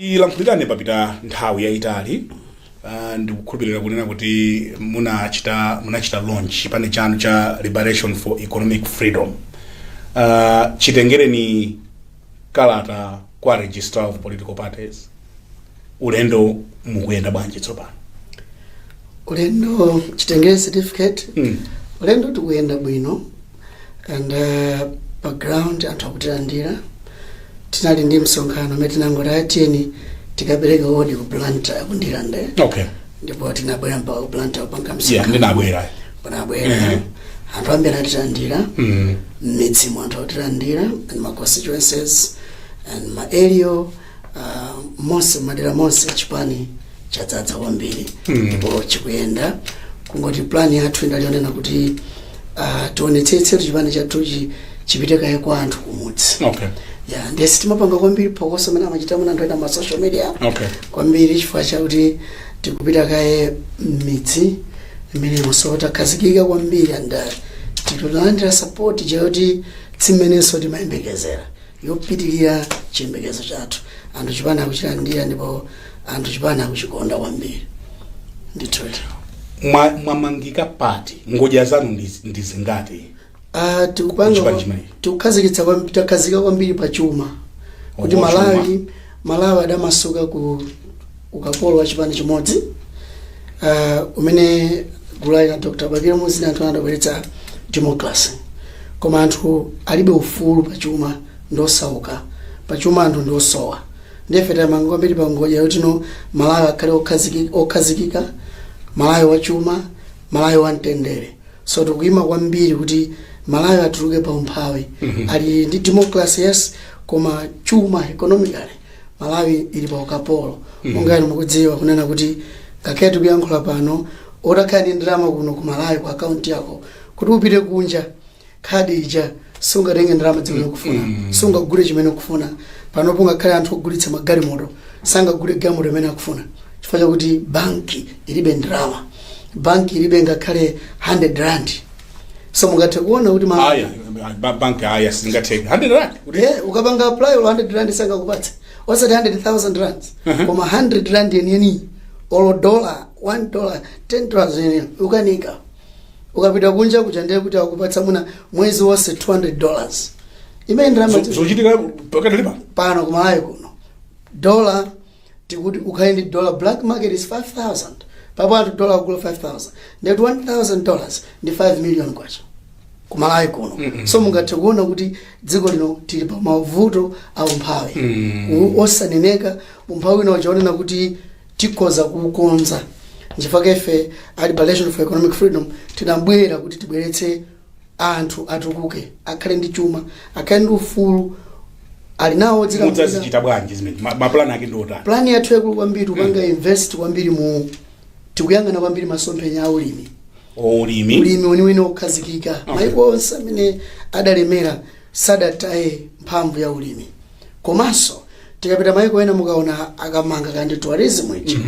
chilankhulirane papita nthawi yayitali uh, ndikukhulupirira kunena kuti munachita munachita launch chipani chanu cha liberation for economic freedom uh, chitengereni kalata kwa registrar of political parties ulendo mukuyenda bwanji tsopano ulendo chitengere certificate Mm. ulendo tikuyenda bwino and uh, pa ground anthu akutilandira tinali ndi msonkhano umene tinangoti tiyeni tikapereke odi ku blantyre ku ndirande okay ndipo tinabwera mpaka ku blantyre kupanga yeah msika ndinabwera panabwera Mhm. anthu ambiri atilandira mm. mmidzimu anthu akutilandira and ma constituencies and ma area uh, monse madera monse chipani chadzadza kwambiri ndipo chikuyenda kungoti plan yathu inali yonena kuti ah, tionetsetse kuti chipani chathuchi chipite kaye kwa anthu kumudzi okay ya ndiye sitimapanga kwambiri phokoso mmene amachitira muna anthu ena ma social media okay kwambiri chifukwa chakuti tikupita kaye mmidzi imene imonso takhazikika kwambiri and uh, tikulandira support chakuti si mmenenso timayembekezera yopitirira chiyembekezo chathu anthu chipani akuchilandira ndipo anthu chipani akuchikonda kwambiri ndithutu Mwa- mwamangika pati ngodya zanu ndi- ndi zingati Ah, tikupanga Kuchipani chimenechi. tikukhazikitsa kwam- takhazika kwambiri pa chuma kuti Oh pa chuma. malawi malawi adamasuka ku ukapolo wa chipani chimodzi uh, umene gulu la a dr bakili muluzi anthu adabweretsa democracy koma anthu alibe ufulu pachuma ndosauka pachuma anthu ndiosowa ndife tamanga kwambiri pa ngodya yoti malawi akhale okhaziki- okhazikika malawi wachuma malawi wamtendere so tikuyima kwambiri kuti malawi atuluke pa umphawi ali ndi democracy yes koma chuma economically malawi ili pa ukapolo monga inu mukudziwa kunena kuti ngakhale tikuyankhula pano otakhala ndi ndalama kuno ku malawi ku akaunti yako kuti upite kunja khadi ija sungatenge ndalama zimene ukufuna sungagule chimene ukufuna panopo ngakhale anthu ogulitsa magalimoto sangagule galimoto imene akufuna chifukwa chakuti banki ilibe ndalama banki ilibe ngakhale 100 rand so mungathe kuona kuti ma- aya ba- bank aya singathe 100 rand kuti Eh, ukapanga apply olo 100 rand sangakupatse osati 100000 rand Mhm. koma 100 rand yeniyeni olo dollar 1 dollar 10 dollars yeniyeni ukanika ukapita kunja kuja ndiye kuti akupatsa muna mwezi wonse 200 dollars imene ndalama zo- zochitika pakadali pano pano ku malawi kuno dola tikuti ukhale ndi dollar black market is 5000 papo anthu dollar akugula 5000 ndikuti 1000 dollars ndi 5 million kwacha ku Malawi kuno so mungathe kuona kuti dziko lino tili pa mavuto a umphawi U- osaneneka umphawi wina ukuoneka kuti tikhoza kuukonza nchifukwa ife a liberation for economic freedom tinabwera kuti tibweretse anthu atukuke, akhale ndi chuma, akhale ndi ufulu, ali nawo odzilamulira. mudzazichita bwanji zimene ma- mapulani ake ndi otani Plani yathu yayikulu kwambiri tipanga invest kwambiri mu tikuyang'ana kwambiri masomphenya a ulimi ulimi weniweni wokhazikika maiko onse amene adalemera sadataye mphamvu ya ulimi komanso tikapita maiko ena mukaona akamanga kaya ndi tourism ichi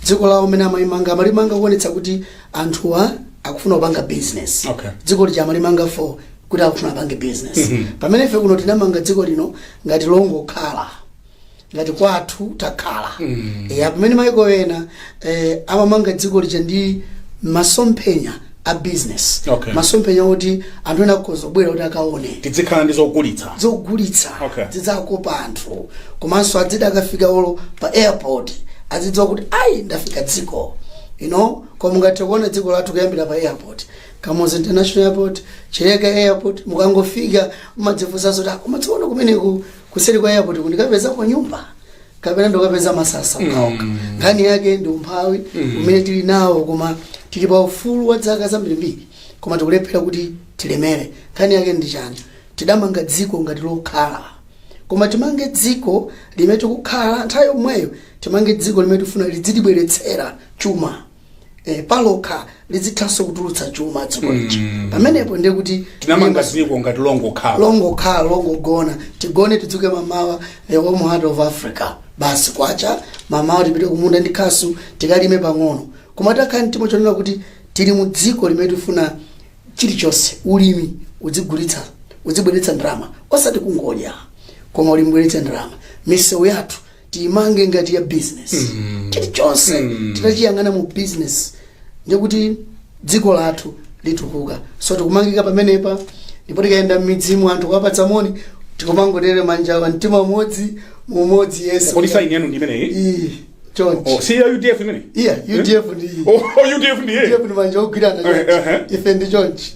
dziko lawo mmene amalimanga amalimanga kuonetsa kuti anthuwa akufuna kupanga business Okay. dziko lija amalimanga for kuti akufuna apange business pamene ife kuno tinamanga dziko lino ngati longokhala ngati kwathu takhala ya pamene maiko ena amamanga dziko lija ndi masomphenya a business Okay. masomphenya oti anthu ena akhoza kubwera kuti akaone tidzikhala ndi zogulitsa Okay. zidzakopa anthu komanso adzida akafika olo pa airport azidziwa kuti ayi ndafika dziko you know koma mungathe kuona dziko lathu kuyambira pa airport kamuzu international airport chileka airport mukangofika mumadzifunsa zoti "Ah, koma tsoona kumeneku kuseri kwa airport kundikapezako nyumba kapena ndikapeza masasa okhaokha nkhani yake ndi umphawi umene tili nawo koma tili pa ufulu wa zaka zambirimbiri koma tikulephera kuti tilemere nkhani yake ndi chani tidamanga dziko ngati lokhala koma timange dziko limene tikukhala nthawi yomweyo timange dziko limene tifuna lidzitibweretsera chuma eh, palokha lizithanso kutulutsa chuma dziko lija pamenepo ndiye kuti tinamanga dziko ngati longogona tigone tidzuke mamawa the warm heart of africa basi kwacha mamawa tipite kumunda ndi khasu tikalime pang'ono koma titakhala nti mtima wonena kuti tili mu dziko limene tifuna chilichonse ulimi udzibweretsa ndalama osati kungodya koma ulimi ubweretse ndalama misewu yathu tiimange ngati ya business chilichonse titachiyang'ana mu business ndikuti dziko lathu litukuka so tikumangika pamenepa ndipo tikayenda m'midzimu anthu kuwapatsa moni tikumangotere manja pa mtima umodzi mu umodzi yes kodi saini yanu ndi imeneyi Ee, chonchi Oh, si ya udf imeneyi ya udf ndi Oh, udf ndi ya udf ndi manja ogwirana Eh, eh, chonchi ife ndi chonchi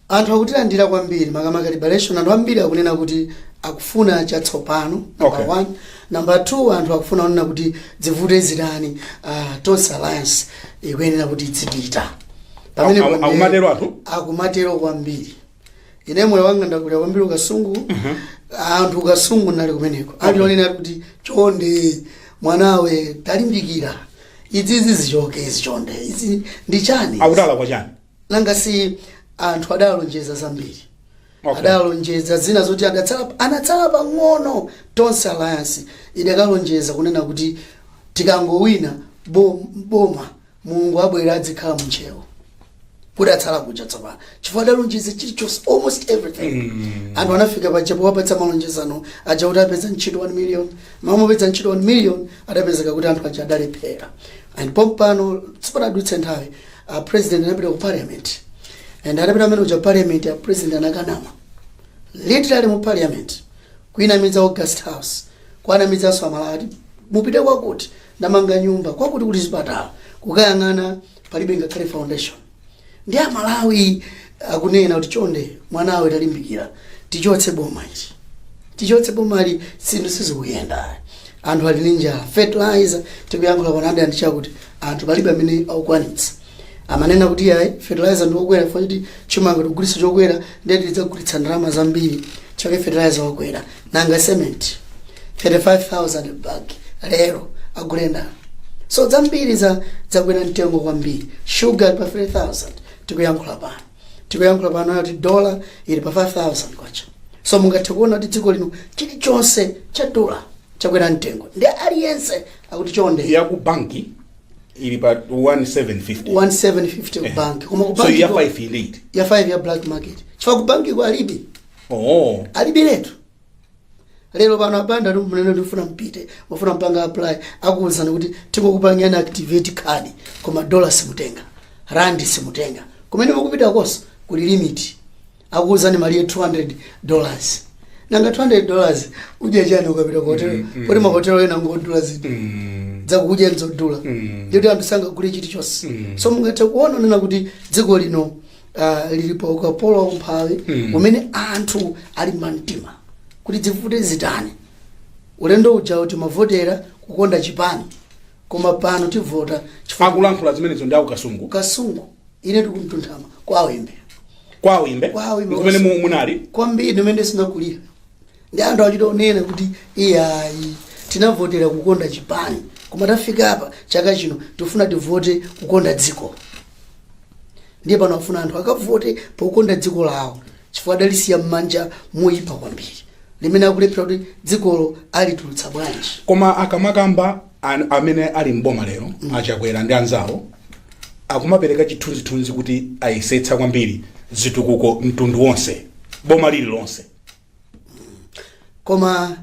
Anthu akutilandira kwambiri makamaka liberation anthu ambiri akunena kuti akufuna chatsopano number Okay. one number two anthu akufuna kunena kuti zivute zitani ah, tonse alliance ikuyenera kuti idzipita Pamene Aku- aku- pamene- akumatero anthu? akumatero kwambiri ine moyo wanga ndakulira kwambiri ku Kasungu anthu ku Kasungu ndinali kumeneko anthu onena kuti chonde mwanawe talimbikira izizi zichoke izi chonde izi ndi chani akutaira chani nanga si anthu adalonjeza zambiri Okay. adalonjeza zina zoti adatsala anatsala pang'ono tonse alliance idakalonjeza kunena kuti tikangowina bo- boma mulungu abwera adzikhala munchewo kudatsala kuja tsopano chifukwa adalonjeza chilichonse almost everything anthu anafika paja powapatsa malonjezano aja kuti apeza ntchito 1 million amati apeza ntchito 1 million adapezeka kuti anthu aja adalephera and pompano sipanadutse nthawi a president anapita ku parliament and atapita mmene muja parliament a president anakanama literally mu parliament kuinamiza august house kuanamizanso amalawi ati mupite kwakuti ndamanga nyumba kwakuti kuli zipatala kukayang'ana palibe ngakhale foundation ndi amalawi akunena kuti chonde mwanawe talimbikira tichotse boma ichi tichotse bomali zinthu sizikuyenda anthu ali ndi njala fertilizer tikuyankhula pano ndi chakuti anthu palibe amene akukwanitsa amanena kuti yayi fertilizer ndiokwera chifukwa choti chimanga tikugulitsa chokwera ndiye tidzagulitsa ndalama zambiri chake fertilizer wakwera nanga cement 35000 bag lero agulenda so zambiri zakwera mtengo kwambiri sugar pa 3000 tikuyankhula pano tikuyankhula pano kuti dola ili pa 5000 kwacha so mungathe kuona kuti dziko lino chilichonse cha dola chakwera mtengo ndi aliyense akuti chonde ya ku banki ili pa 1750 1750 ku banki koma ku so banki ya ko- 5 ili iti ya 5 ya black market chifukwa ku banki ko alibe oh alibiretu lero pano a Banda munene ndifuna mpite mufuna mupange apply akuwuzani kuti tingokupangani activate card koma dollar simutenga rand simutenga kumene mukupita konso kuli limit akuwuzani malire 200 dollars nanga 200 dollars udya chani ukapita ku hotel kuti mahotelo ena ngodula zinthu dzakudya nzodula ndipo anthu sangagule chilichonse so mungathe kuona kunena kuti dziko lino ah, lili pa ukapolo wa umphawi umene anthu ali mumtima kuti zivute zitani ulendo uja timavotera kukonda chipani koma pano tivota chifukwa akulankhula zimenezo ndi akukasungu kasungu ine ndi ku Mtunthama kwa Wimbe kwa Wimbe Kwa Wimbe. kumene mu- munali kwambiri ndi kumene ndinakulira ndi anthu achita kunena kuti iyayi tinavotera kukonda chipani koma tafika apa chaka chino tifuna tivote kukonda dziko ndiye pano afuna anthu akavote pokonda dziko lawo chifukwa adalisiya m'manja moyipa kwambiri limene akulephera kuti dzikolo alitulutsa bwanji koma akamakamba an- amene ali mboma lero a Chakwera ndi anzawo akumapereka chithunzithunzi kuti ayesetsa kwambiri zitukuko mtundu wonse boma lililonse koma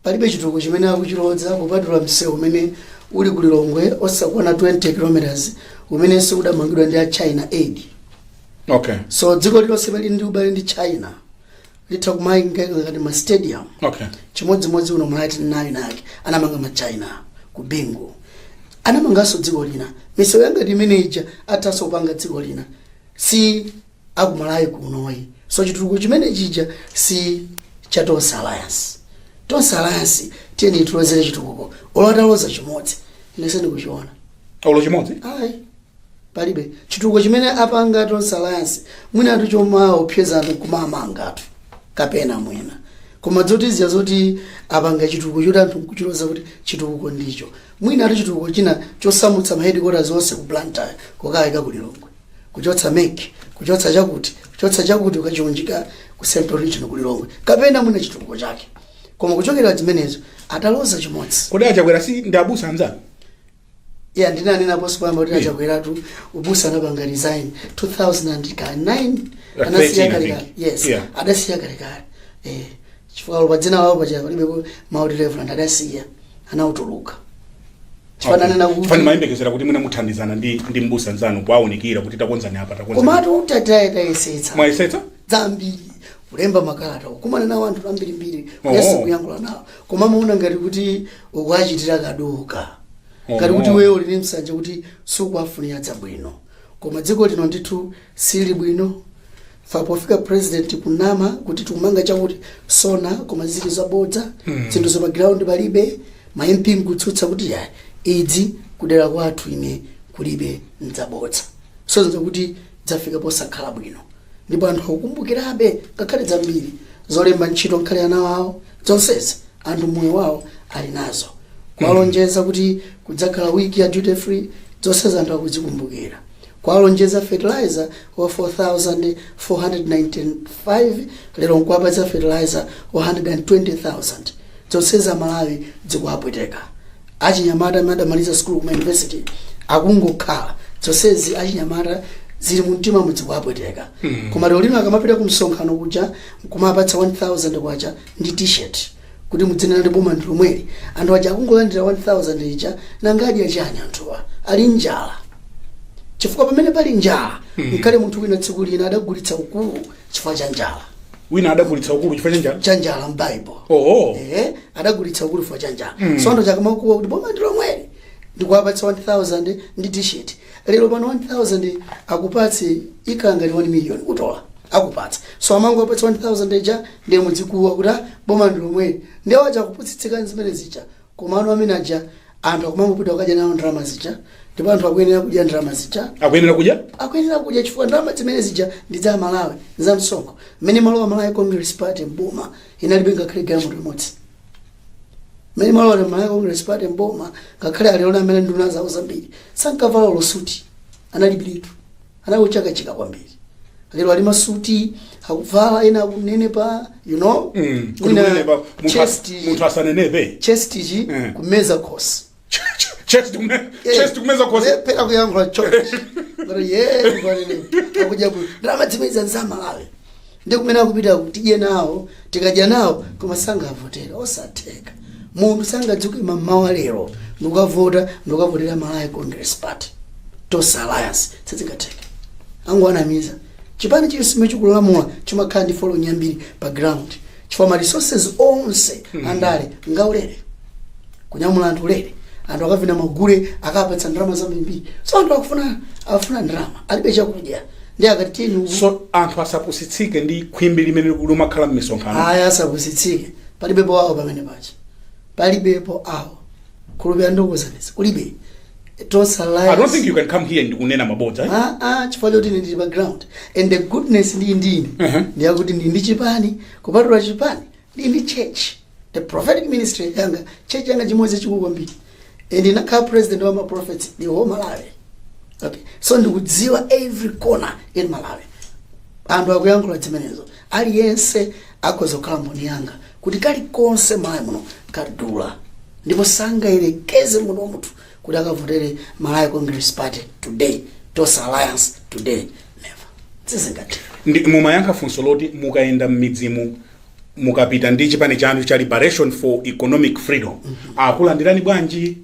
palibe chitukuko chimene akuchiloza kupatula msewu umene uli ku lilongwe osakwana 20 kilometers umenenso udamangidwa ndi a china aid okay so dziko lilonse pali ndi ubale ndi china litha kumanga ngati ma stadium okay chimodzimodzi uno mulati nayo nake anamanga ma china ku bingu anamanganso dziko lina misewu ya ngati imene ija athanso kupanga dziko lina si aku Malawi kuno ayi so chitukuko chimene chija si cha tonse alliance tonse alliance tiyeni tilozere chitukuko olo ataloza chimodzi ine sindikuchiona olo chimodzi ayi palibe chitukuko chimene apanga tonse alliance mwina ati chomawopseza anthu kumamanga anthu kapena mwina koma zotiuzira zoti apanga chitukuko choti anthu nkuchiloza kuti chitukuko ndicho mwina ati chitukuko china chosamutsa mahedikota onse ku blantyre kukayika ku lilongwe kuchotsa mec kuchotsa chakuti kuchotsa chakuti kukachiunjika ku central region ku lilongwe kapena mwina chitukuko chake koma kuchotsera zimenezo ataloza chimodzi kodi a Chakwera si ndi abusa anzanu ya ndinanena poyamba kuti a Chakweratu ubusa anapanga resign 2009 anasiya kalekale yes adasiya kalekale eh chifukwa pa dzina lawo paja palibe mau oti reverend adasiya anautuluka chifukwa ndanena kuti fine timayembekezera kuti mwina muthandizana ndi ndi mbusa nzanu kuwaunikira kuti takonzani apa takonzani komatu tayesetsa mwayesetsa zambiri kulemba makalata kukumana nawo anthu ambirimbiri kuyesa kuyankhula nawo koma amaona ngati kuti ukuachitira kaduka ngati kuti iweyo uli ndi msanje kuti sukuwafunira zabwino koma dziko lino ndithu Sili bwino tapofika president kunama kuti tikumanga chakuti so koma zili zabodza zinthu za pa ground palibe ma MP nkutsutsa kuti iyayi izi kudera kwathu ine kulibe ndzabodza so nzokuti zafika posakhala bwino ndipo anthu akukumbukirabe nkhani zambiri zolemba ntchito nkhani ya ana awo zonsezi anthu moyo wawo ali nazo kuwalonjeza kuti kudzakhala wiki ya duty free zonsezi anthu akuzikumbukira Kuwalonjeza fertilizer wa 4495 lero nkuwapatsa fertilizer wa 120,000 dzonsezi aMalawi dzikuwapweteka. Achinyamata amene adamaliza sukulu kuma university akungokhala dzonsezi achinyamata zili mumtimamu zikuwapweteka. Koma lero lino akamapita kumsonkhano kuja nkumawapatsa 1000 kwacha ndi t-shirt. kuti mudzinena kuti boma ndi lomweli anthu aja akungolandira 1000 ija nanga adya chani anthuwa ali njala chifukwa pamene pali njala nkale munthu wina tsiku lina adagulitsa ukulu chifukwa cha njala wina adagulitsa ukulu chifukwa cha njala cha njala m'Bible oo ehe adagulitsa ukulu chifukwa cha njala so anthu aja akamakuwa kuti boma ndi lomweli ndikuwapatsa 1000 ndi t-shirt lero pano 1000 akupatse ikhala ngati 1 million kutola akupatsa so amangowapatsa 1000 ija ndiye mudzikuwa kuti "Ah, boma ndi lomweli ndiye awo aja akupusitsika ndi zimene zija koma anthu amene aja anthu akumangopita kukadya nawo ndalama zija ndipo anthu akuyenera kudya ndalama zija akuyenera kudya akuyenera kudya chifukwa ndalama zimene zija ndi za aMalawi za msonkho mmene imalowa Malawi Congress Party m'boma inalibe ngakhale galimoto imodzi mmene imalowa Malawi Congress Party m'boma ngakhale alipowa amene nduna zawo zambiri sankavala olo suti analibiretu anali ochakachika kwambiri lero ali m'masuti akuvala ena akunenepa you know Mm, kuti Mwina kunenepa, munthu as- chest- munthu asanenepe chest ichi Mm. kumeza khosi chest kume Eh, chest kumeza khosi kulephera kuyankhula church kuti ye ndikwanene akudya bwino ndalama zimene zija ndi za aMalawi ndi kumene akupita tidye nawo tikadya nawo koma sangavotera osatheka munthu sangadzuke mamawa lero ndikukavota ndikukavotera Malawi Congress Party Tonse Alliance sizingatheke akungowanamiza Chipani chilichonse chimene chikulamula chimakhala ndi following yambiri pa ground chifukwa ma resources onse andale ngaulere kunyamula anthu ulere anthu akavina magule akapatsa ndalama zambirimbiri so anthu akufuna afuna ndalama alibe chakudya nde akati tiyeni uku so anthu asapusitsike ndi khwimbi limene limakhala mmisonkhano aya asapusitsike palibe powawa pamene paja palibepo wokhulupirira ndikuuzeni kulibe Tonse Alliance I don't think you can come here ndikunena mabodza eh? Ah, ah, chifukwa choti ndili pa ground and the goodness ndi ine Mhm. ndiyakuti ndili ndi chipani kupatula chipani ndili ndi church the prophetic ministry yanga church yanga chimodzi chachikulu kwambiri and ndinakhala president wa maprophets the whole Malawi okay so ndikudziwa every corner in Malawi anthu akuyankhula zimenezo Aliyense akhoza kukhala mboni yanga kuti kalikonse Malawi muno kadula ndipo sangayerekeze muno munthu kuti akavotere Malawi Congress Party today Tonse Alliance today never sizingatero nde mumayankha funso loti mukayenda m'midzimu mukapita ndi chipani chanu cha liberation for economic freedom akulandirani bwanji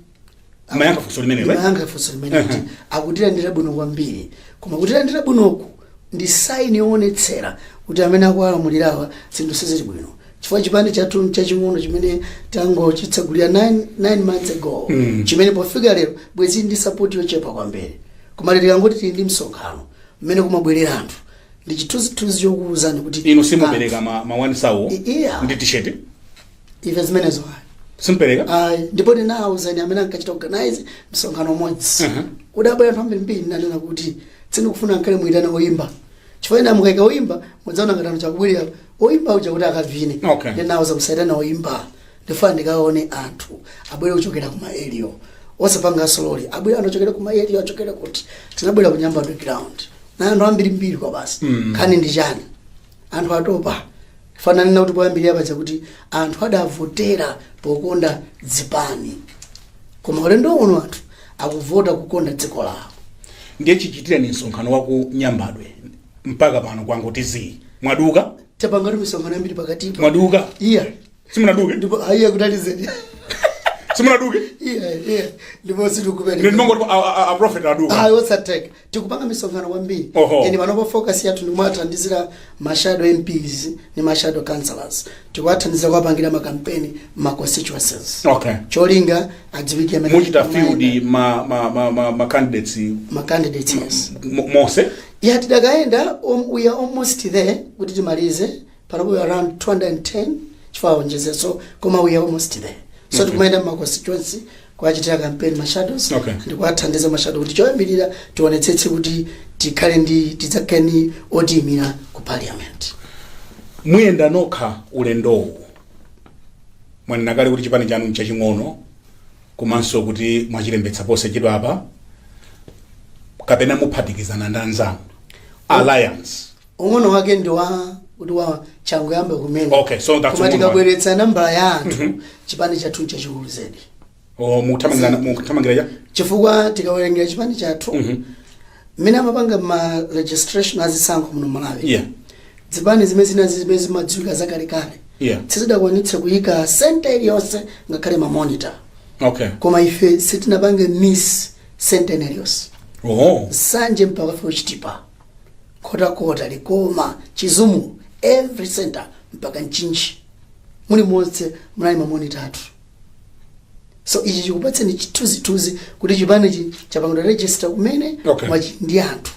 amayankha funso limenelo eh? imayankha funso limene kuti akutilandira bwino kwambiri koma kutilandira bwinoku ndi saini yoonetsera kuti amene akuwalamulirawa zinthu sizili bwino chifukwa chipani chathu nchaching'ono chimene tangochitsegulira 9 months ago Mm. chimene pofika lero bwezi ndi sapoti yochepa kwambiri koma lero tikangoti tili ndi msonkhano mmene kumabwerera anthu ndi chithunzithunzi chokuwuzani kuti inu simupereka ma, ma one thousand I- iya. ndi t-shirt ife zimenezo ayi simpereka ayi ndipo ndinawuzani amene ankachita organize msonkhano umodzi Mhm. udabwera anthu ambirimbiri nanena kuti sindikufuna nkale muyitana oyimba chifukwa ina mukaika oyimba mudzaona ngati anthu akubwerera oyimba uja kuti akavine Okay. ndinawuza musayitane oyimba ndifuna ndikaone anthu abwere kuchokera ku ma area osapanga zamalole abwere anthu ochokera ku ma area achokera kuti tinabwera ku nyambadwe ground ndi anthu ambirimbiri kwa basi Mm. nkhani ndi chani anthu atopa Chifukwa ananena kuti poyambirira paja kuti anthu adavotera pokonda dzipani, koma ulendo uno anthu akuvota kukonda dziko lawo. ndiye chichitireni msonkhano wa ku nyambadwe mpaka pano kwangoti zii mwaduka Tapangatu misonkhano yambiri pakatipa. mwaduka Iya. simunaduke Ndipo aiya kutalizeni. simunaduke Iya, iya. Ndipo sitikupeleka. ndimangoti a prophet aduka Ayi sizotheka. tikupanga misonkhano kwambiri Oho. and panopa focus yathu ndikumathandizira ma shadow mps ndi ma shadow councillors tikuwathandizira kuwapangira makampeni ma constituencies okay cholinga adziwike amene mwachita akumayenda. field ma, ma, ma, ma, ma candidates ma candidates yes mo- monse ya tidakayenda um, we are almost there kuti timalize panopo around 210 chifukwa aonjezeso koma we are almost there so okay. tikumayenda mma constituency kuachitira campaign ma shadows Okay. ndi kuathandiza ma shadow kuti choyambirira tionetsetse kuti tikhale ndi tidzakhale ndi otiyimira ku parliament muyenda nokha ulendowu mwanena kale kuti chipani chanu nchaching'ono komanso kuti mwachilembetsa posachedwa apa kapena muphatikizana ndi anzanu alliance ung'ono wake ndi wa kuti changoyamba kumene Okay, so that's koma ung'ono tikabweretsa nambala ya anthu chipani chathu nchachikulu zedi o mukuthamangira mukuthamangira ya chifukwa tikawerengera chipani chathu Mhm. mmene amapanga ma registration azisankho muno malawi yeah zipani zimene zina zimene zimadziwika zakalekale yeah sizidakwanitse kuyika senta iliyonse ngakhale mamonita okay koma ife sitinapange miss senta ina iliyonse oh nsanje mpaka ku chitipa Nkhotakota, Likoma, Chizumulu, every center mpaka Mchinji mulimonse munali mamonita athu. So ichi chikupatseni chithunzithunzi kuti chipanichi chapangidwa register kumene Okay. koma chili ndi anthu.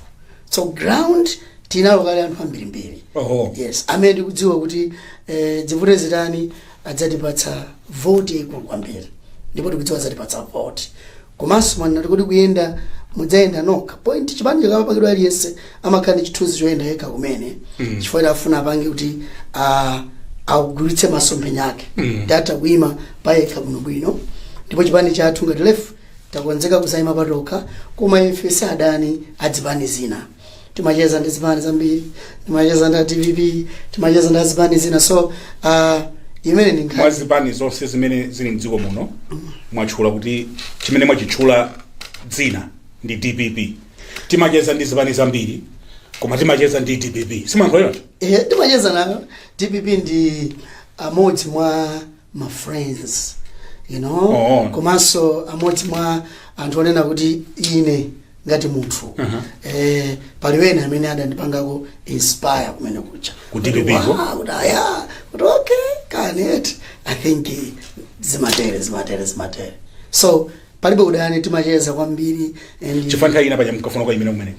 So ground tinalo kale anthu ambirimbiri. Oho. Yes, amene ndikudziwa kuti eh, dzivute zitani adzatipatsa vote yaikulu kwambiri ndipo tikudziwa adzatipatsa vote Komanso mwanena kuti kodi kuyenda mudzayenda nokha point chipani chikamapangidwa aliyense amakhala ndi chithunzithunzi choyenda yekha kumene chifukwa akufuna apange kuti ah, agulitse masomphenya ake kuti atha kuima payekha bwinobwino ndipo chipani chathu ngati lefu takonzeka kudzayima patokha koma ife si adani a zipani zina timacheza ndi zipani zambiri timacheza ndi a dpp timacheza ndi azipani zina so uh, imeneyo ndi nkhani mwa zipani zonse zimene zili mdziko muno mwatchula kuti chimene mwachitchula dzina ndi dpp timacheza ndi zipani zambiri koma timacheza ndi dpp simankhuliratu Eh, timacheza nayo dpp ndi amodzi mwa ma friends you know Oh. komanso amodzi mwa anthu onena kuti ine ngati munthu Uh-huh. eh, pali ena amene adandipangako inspire kumene kuja ku DPP-ko? Wow, kuti aya kuti okay kanet i think eh, zimatere zimatere zimatere so palibe udani timacheza kwambiri and chifukwa nthawi ina paja munkafuna kuima kumeneko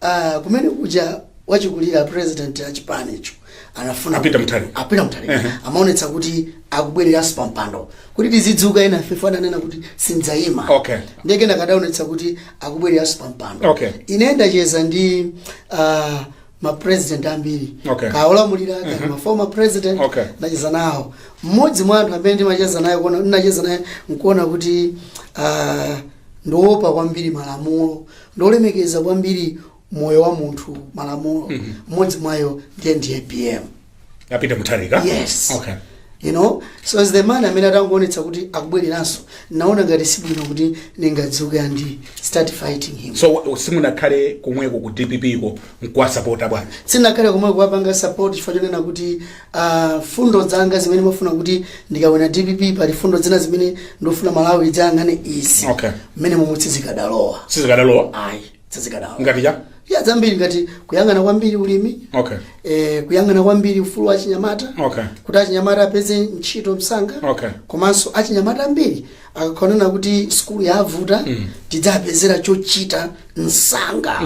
Ah, kumene kuja achikulire president wa chipanicho anafuna A Peter kuti- Mutharika. a Peter Mutharika Ehe. amaonetsa kuti akubwereranso pa mpando kuti tizidzuka enafe ananena kuti sindzayima Okay. ndiye kenako adaonetsa kuti akubwereranso pa mpando Okay. ine ndacheza ndi uh, mapresident ambiri Okay. kaya olamulira kaya ma former president Okay. ndacheza nawo mmodzi mwa anthu amene ndimacheza naye kuona ndinacheza naye nkuona kuti uh, ndi oopa kwambiri malamulo ndi olemekeza kwambiri moyo wa munthu malamulo mmodzi mwa iwo ndiye ndi apm a Peter Mutharika Yes. okay you know so as the man amene atangoonetsa kuti akubwereranso naona ngati sibwino kuti ndingadzuke ndi start fighting him so wa- simunakhale komweko ku dpp ko mkuwasapota bwana sindinakhale komweko kuwapanga support chifukwa chonena kuti a mfundo zanga zimene ndimafuna kuti ndikawine dpp pali mfundo zina zimene ndimafuna malawi idzayang'ane izi Okay. mmene momwe sizikadalowa sizikadalowa ayi sizikadalowa ngati chiyani zambiri ngati kuyang'ana kwambiri ulimi okay eh, kuyang'ana kwambiri ufulu wa achinyamata okay kuti achinyamata apeze ntchito msanga Okay. komanso achinyamata ambiri ankangonena kuti sukulu yavuta tidzapezera chochita msanga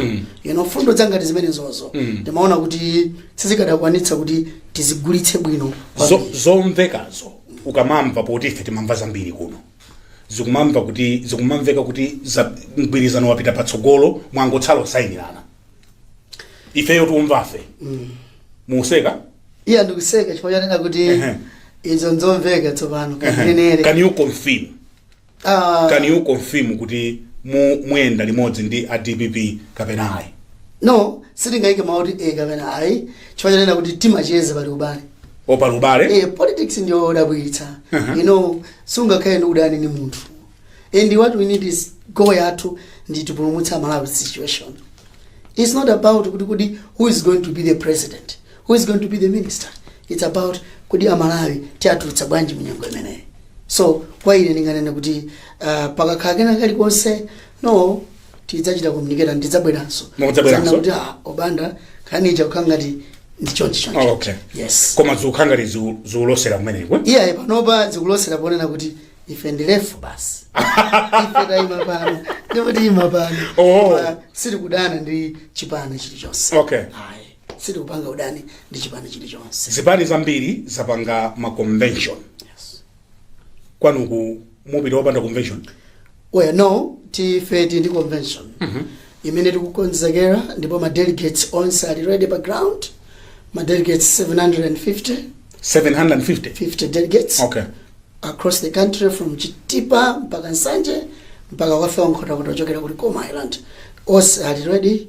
you know mfundo zangati zimenezozo timaona kuti sizikadakwanitsa kuti tizigulitse bwino Zo- zomvekazo ukamamva poti ife timamva zambiri kuno zikumamva kuti zikumamveka kuti za- mgwirizano wapita patsogolo mwangotsala kusayinirana ifeyo tikumvafe mukuseka iya ndikuseka chifukwa chonena kuti Ehe. izo nzomveka tsopano Ehe. kazinenere can you confirm Ah, can you confirm kuti mu- muyenda limodzi ndi a dpp kapena ayi no sitingayike mawu kuti e kapena ayi chifukwa chonena kuti timacheza pali ubale o pali ubale Eh, politics ndi yodabwitsa Uh-huh. you know sungakhale ndi udani ndi munthu and what we need is goal yathu ndi tipulumutse amalawi pa situation It's not about kuti kuti who is going to be the president, who is going to be the minister. It's about kuti amalawi tiwatulutsa bwanji munyengo imeneyi. So kwa ine ndinganene kuti uh, pakakhala kena kalikonse no tidzachita communicate and tidzabweranso. Mudzabweranso? Kudzanena kuti ah, a Banda nkhani ija kukhala ngati ndi chonchi chonchi. Oh, okay. Yes. koma zikukhala ngati ziku- zikulosera kumeneko Iyaye panopa zikulosera ponena kuti ife ndilefu basi ife tayima pano ndipo tiyima pano Oh. Koma sitikudana ndi chipani chilichonse Okay. Ayi, sitikupanga udani ndi chipani chilichonse zipani zambiri zapanga ma convention Yes. kwanuko mupita opanda convention well no ife tili ndi convention imene tikukonzekera ndipo ma delegates onse ali ready pa ground ma delegates 750 750 delegates okay across the country from chitipa mpaka nsanje mpaka kufika nkhotakota ochokera ku likoma island onse ali ready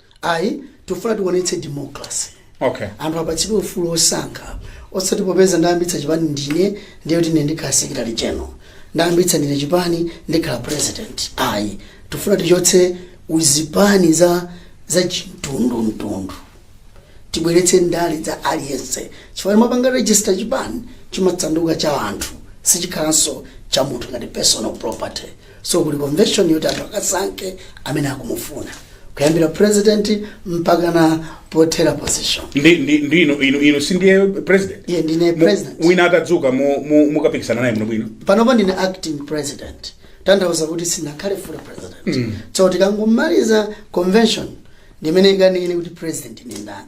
ayi tikufuna tionetse democracy okay anthu apatsidwe ufulu wosankha osati popeza ndayambitsa chipani ndine ndiye kuti ndine ndikhale secretary general ndayambitsa ndine chipani ndikhale president ayi tifuna tichotse uzipani za za chimtundumtundu tibweretse ndale za aliyense chifukwa tikapanga register chipani chimatsanduka cha anthu sichikhalanso cha munthu ngati personal property So kuli convention yoti anthu akasankhe amene akumufuna kuyambira president mpakana pothera position. ndi ndi ndi inu inu inu si ndiye president Iya ndine Mu- president. wina atadzuka mu- mu- mukapikisana naye bwinobwino panopa ndine acting president kutanthauza kuti sindinakhale full president so tikangomaliza convention ndimene ikanene kuti president ndi ndani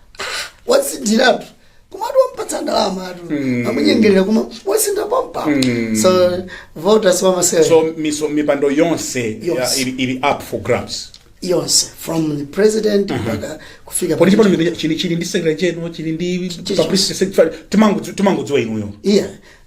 wasinthiratu kumati wampatsa ndalama anthu Mm. amunyengerera kuma wasintha pampa Mm. so voters wamasewera so mi- so, mipando yonse Yonse. ya- ili, ili up for grabs yonse from the president mpaka kufika kodi chipani chino chili- chili chili ndi secretary general chili ndi Chili- publicity secretary timangodziwa inuyo yeah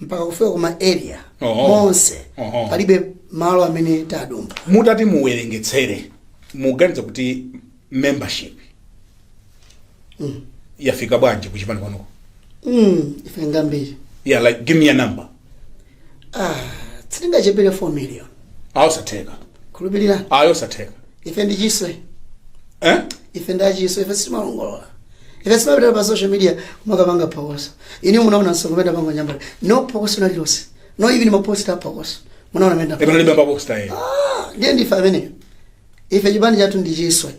mpaka kufika kuma area Oho. monse Oho. palibe malo amene tadumpha mutati muwerengetsere muganiza kuti membership yafika bwanji kuchipani kwanuko mm, ife ngambiri yeah like give me a number ah, sitingachepere 4 million ayosatheka khulupirira ayosatheka ife ndi chiswe eh? ife ndi achiswe ife sitimalongolola ife sitimapita pa social media kumakapanga phokoso ine munaona msonkhano pango nyambala no phokoso nalililonse no even maposta phokoso munaona mmene Ndipo nalibe maposta ayi. ndiye ndife ameneyo ife chipani chathu ndi chiswe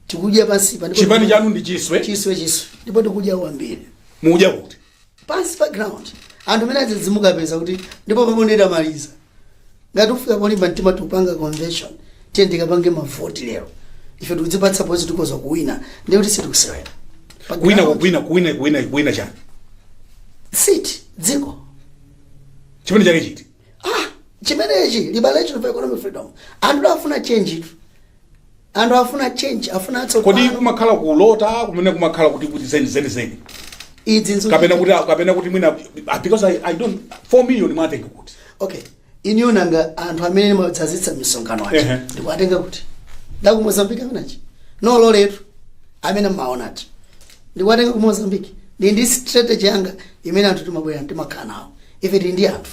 tikudya pansi pa ndipo- Chipani chanu ndi chiswe. chiswe chiswe ndipo tikudya kwambiri Mudya kuti. pansi pa ground anthu amene adzadzidzimuka apeza kuti ndipo pamene ndamaliza ngati tikufika polimba mtima tikupanga convention tiyeni tikapange mavoti lero ife tikudzipatsa pozi tikhoza kuwina ndiye kuti sitikusewera Pa kuwina ground, kuwina kuwina kuwina kuwina chani seat dziko chipani chake chiti ah chimenechi liberation for economic freedom anthu afuna change itu anthu afuna change afuna kodi atsopano kumakhala kulota kumene kumakhala kuti kuti zeni zeni zeni izi nzo- kapena kuti kapena kuti mwina ah, because I, i don't 4 million mwatenga kuti okay iniyo nanga anthu amene timadzazitsa misonkhano aja Ehe. ndikuwatenga kuti ndaku mozambiki amene aja no loletu amene mumaonazo ndikuwatenga ku mozambiki ndi ndi strategy yanga imene anthu timabwera timakhala nawo ife tili ndi anthu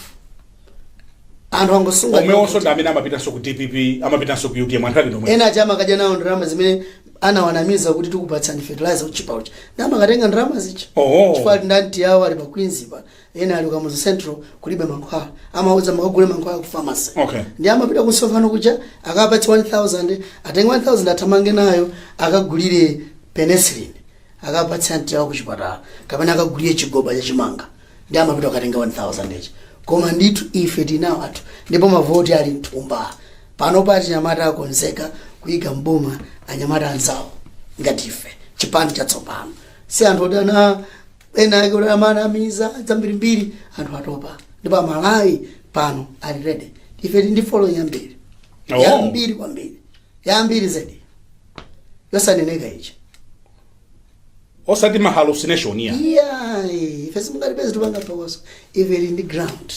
anthu angosunga omwewonso ndi amene amapitanso ku dpp amapitanso ku utm anthu ake ngomwewo ena aja amakadya nawo ndalama zimene anawanamiza kuti tikupatsani fertilizer wotchipa uja ndiye amakatenga ndalama zija Oho. chifukwa ali ndi anti yawo ali pa queens pa ena ali ku kamuzu central kulibe mankhwala amawauza mukagule mankhwala ku pharmacy Okay. ndiye amapita kumsonkhano kuja akawapatsa 1000 atenge 1000 athamange nayo akagulire penicillin akapatse anti yawo kuchipatala kapena akagulire chigoba cha chimanga ndiye amapita kukatenga 1000 ija koma ndithu ife tinawo anthu ndipo mavoti ali mthumba pano pa achinyamata akonzeka kuyika mboma anyamata anzawo ngati ife chipani chatsopano si anthu oti anu ena ake oti anawanamiza zambirimbiri anthu atopa ndipo amalawi pano ali ready ife tili ndi following yambiri Oh. yambiri kwambiri yambiri zedi yosaneneka ichi osati ma hallucination ya iyayi ife simungatipeze tikupanga phokoso ife tili ndi ground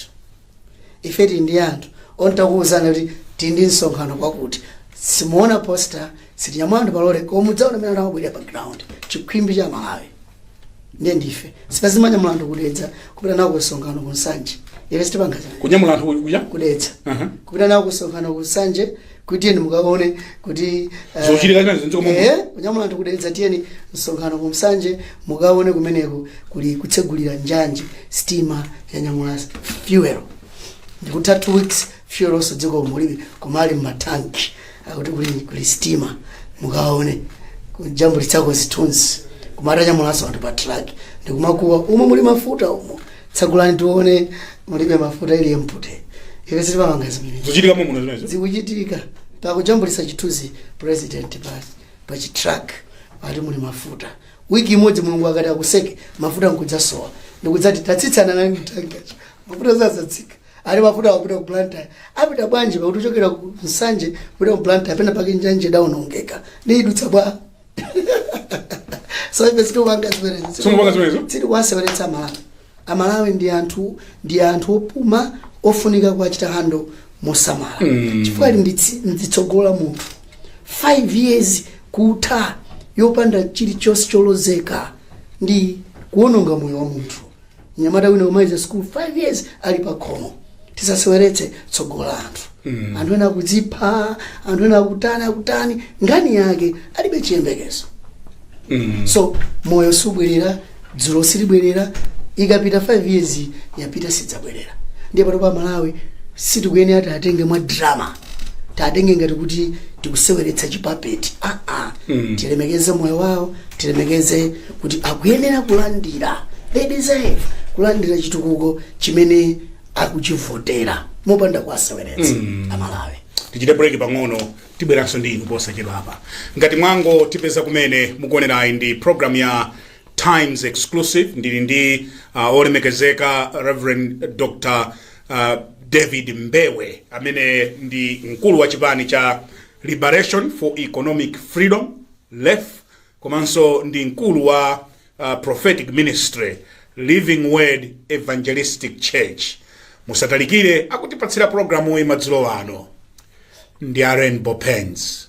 ife tili ndi anthu oti tikauzana kuti tili ndi msonkhano kwakuti simuona poster sitinyamula anthu palole koma mudzaona mmene anthu abwerera pa ground chikhwimbi cha malawi ndiye ndife si paja amanyamula anthu ku dedza kupita nawo ku msonkhano ku nsanje ife sitipanga zimenezo kunyamula anthu kuja ku dedza Aha. kupita nawo ku msonkhano ku nsanje kuti tiyeni mukaone kuti eh, Zochitika zinazi m'dziko momwe. eh, kunyamula anthu kudalitsa tiyeni msonkhano ku Nsanje mukaone kumeneko kuli kutsegulira njanji sitima yanyamula fuel ndikutha two weeks fuel onse dziko mulibe koma ali mmatanki akuti kuli, kuli sitima mukaone kujambulitsako zithunzi kumakanyamulanso anthu pa truck ndikumakuwa umo muli mafuta umo tsagulani tione mulibe mafuta ili empty ife sitikupanga zimene zochitika mumuno zimenezo zikuchitika pakujambulitsa chithunzi president pa pa chitrak ati muli mafuta wiki imodzi mulungu akati akuseke mafuta nkudzasowa ndikudzati tatsitsana nani tanki mafuta zazatsika ali mafuta akuti ku blantyre apita bwanji pakuti uchokera ku nsanje kupita ku blantyre pena pake njanji idaonongeka ndiye idutsa bwa so ife sitikupanga zimenezo Sitikupanga zimenezo? sitikuwaseweretsa amalawi amalawi ndi anthu ndi anthu opuma ofunika kuwachita hando mosamala Mm. chifukwa ndi tsi- ndi tsogolo la munthu 5 years kutha yopanda chilichonse cholozeka ndi kuononga moyo wa munthu Mnyamata wina kumaliza sukulu 5 years ali pa khomo. Tisaseweretse tsogolo la anthu. Anthu ena akudzipha, anthu ena akutani akutani, nkhani yake alibe chiyembekezo. So moyo subwerera, dzulo silibwerera, ikapita 5 years iyi, yapita sidzabwerera. Ndiye pano pa Malawi sitikuyenera tiwatenge mwa drama. Tiwatenge ngati kuti tikuseweretsa chipapapa. Ah ah. Tilemekeze moyo wawo, tilemekeze kuti akuyenera kulandira they deserve kulandira chitukuko chimene akuchivotera mopanda kuwaseweretsa amalawi tichite break pang'ono tibweranso ndi inu posachedwapa ngati mwangotipeza kumene mukuonerayi ndi program ya times exclusive ndili ndi uh, olemekezeka reverend dr uh, david mbewe amene ndi mkulu wa chipani cha liberation for economic freedom lef komanso ndi mkulu wa uh, Prophetic Ministry Living Word Evangelistic Church musatalikire akutipatsira programu iyi madzulo ano ndi a Rainbow Paints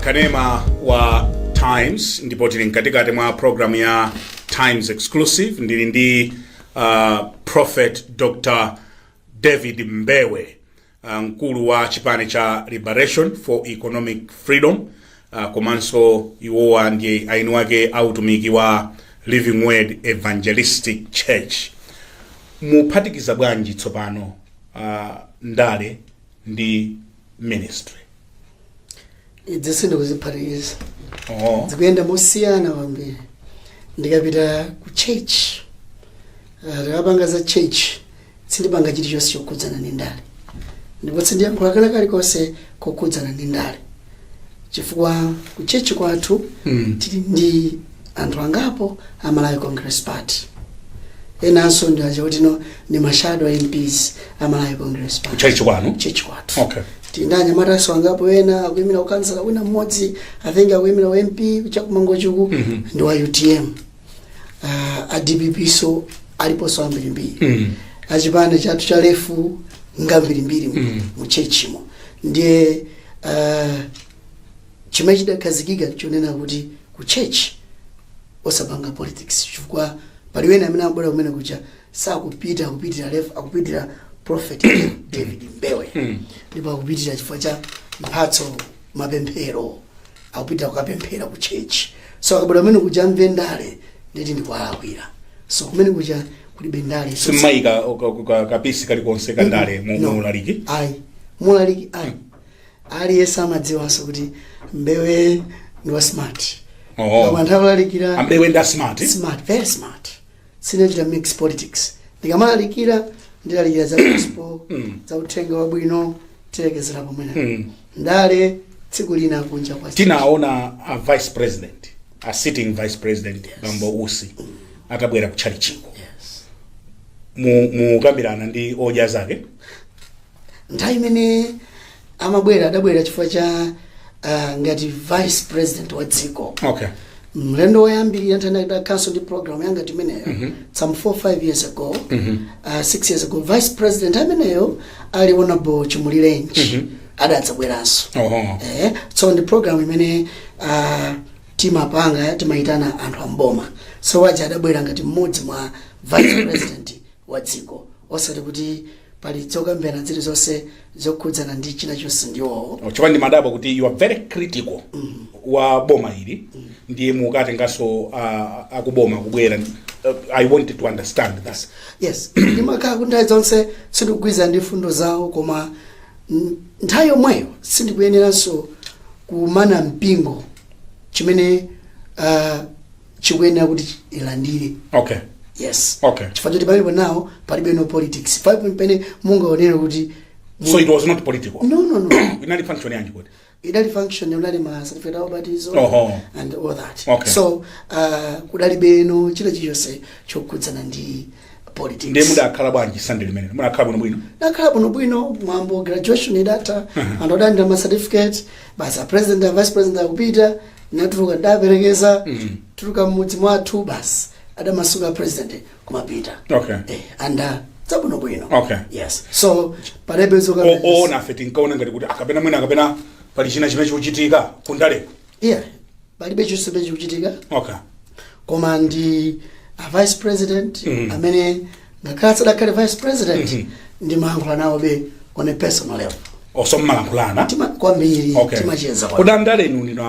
kanema wa times ndipo tili mkatikati mwa program ya times exclusive ndili ndi uh, prophet dr david mbewe uh, mkulu wa chipani cha liberation for economic freedom uh, komanso iwowa ndi eni ake a utumiki wa living word evangelistic church muphatikiza bwanji tsopano uh, ndale ndi ministry izi sindikuziphatikiza oh. zikuyenda mosiyana kwambiri ndikapita ku church ah, ndikapanga za church sindipanga chilichonse chokhudzana ndi ndale ndipo sindiyankhula kala kalikonse kokhudzana ndi ndale chifukwa ku church kwathu Mm. tili ndi anthu angapo a malawi congress party enanso ndi aja kuti no ndi mashado mps a malawi congress party tchalitchi kwanu church kwathu okay tili ndi mamembalanso angapo ena akuyimira ukhansala wina mmodzi i think akuyimira u mp chakumangochiku Mhm. ndi wa utm uh, a dpp so aliponso ambirimbiri Mm. achipani chathu cha lef ngambirimbiri Mm. mu tchetchimo ndiye uh, Chimene chidakhazikika nchonena kuti ku church osapanga politics chifukwa pali wena amene abwera kumene kuja sakupita akupitira lef akupitira prophet david mbewe ndipo akupitira chifukwa cha mphatso mapemphero akupitira kukapemphera ku church so akabwera kumene kuja amve ndale nde kuti ndikuwalakwira so kumene kuja kulibe ndale simumayika kapisi kalikonse kandale mu No. mu ulaliki ayi mulaliki ayi aliyense amadziwanso kuti mbewe ndi wa smart Oh. Koma nthawi yolalikira a mbewe ndi a smart smart very smart sindichita mix politics ndikamalalikira ndilalikira za gospel za uthenga wabwino tilekezera pomwepo Mm. ndale tsiku lina kunja kwa tinaona a vice president a sitting vice president bambo usi atabwera ku tchalitchiko yes. mukukambirana ndi odya zake nthawi imene amabwera adabwera chifukwa cha uh, ngati vice president wa dziko okay mlendo woyambirira nthawi ndinakhalanso ndi program yanga time imeneyo some 4 5 years ago uh, 6 years ago vice president time imeneyo ali honorable chimulirenji adadzabweranso oh eh, so ndi program imene uh, timapanga timayitana anthu amboma so awaja adabwera ngati mmodzi mwa vice president wa dziko osati kuti pali zokambirana zilizonse zokhudzana ndi china chonse ndi iwowo chifukwa ndimadabwa kuti you are very critical wa boma ili ndiye mukatenganso ah, akuboma kubwera Uh, i wanted to understand that yes ndimakhala kuti nthawi zonse sindikugwirizana ndi mfundo zawo koma n- nthawi yomweyo sindikuyeneranso kuumana mpingo chimene uh, ukuyenera kuti ulandire okay yes Okay. chifukwa choti palibe nawo palibe no politics palibe pamene mungaonere kuti so it was not political no no no inali function yanji kuti idali function ya ma certificate of baptism Oho. and all that Okay. so uh, kudalibe no china chilichonse chokhudzana ndi ndiye politics mudakhala bwanji Sunday limene mudakhala bwino bwino nakhala bwino bwino mwambo graduation idatha anthu adalandira ma certificate basi a president a vice president akupita nkutuluka ndaperekeza kutuluka mmudzi mwathu basi adamasuka a president kumapita okay eh, and zabwino bwino Okay. yes so palebe zoka o- oona ife tinkaona ngati kuti akapena mwina akapena pali china chimene chikuchitika kundale yeah palibe chomwe chikuchitika okay koma ndi a vice president Mhm. amene ngakhale asadakhale vice president Mhm. ndimayankhula nawobe on a personal level oh so mumalankhulana Tima- kwambiri okay timacheza kwambiri. kodi andale inu ndinu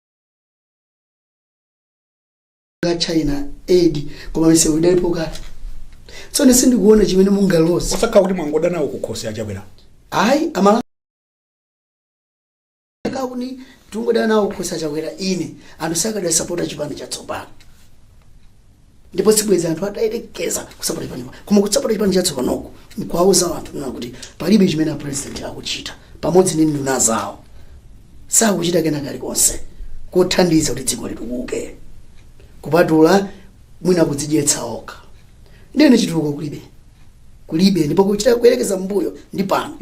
ka China Aid koma misewu idalipo kale tsono sindikuona chimene mungaloze osakhala kuti mwangoda nawo kukhosi a Chakwera ayi amalakwa kuti tungoda nawo kukhosi a Chakwera ine anthu sakadasapota chipani chatsopano ndipo sibwezi anthu atayerekeza kusapota chipani chimodzi koma kusapota chipani chatsopanoku nkuwauza anthu kunena kuti palibe chimene apresident akuchita pamodzi ndi nduna zawo sakuchita kena kalikonse kothandiza kuti dziko litukuke kupatula mwina kudzidyetsa okha ndiye chitukuko kulibe kulibe ndipo kuchita kuyerekeza mbuyo ndi pano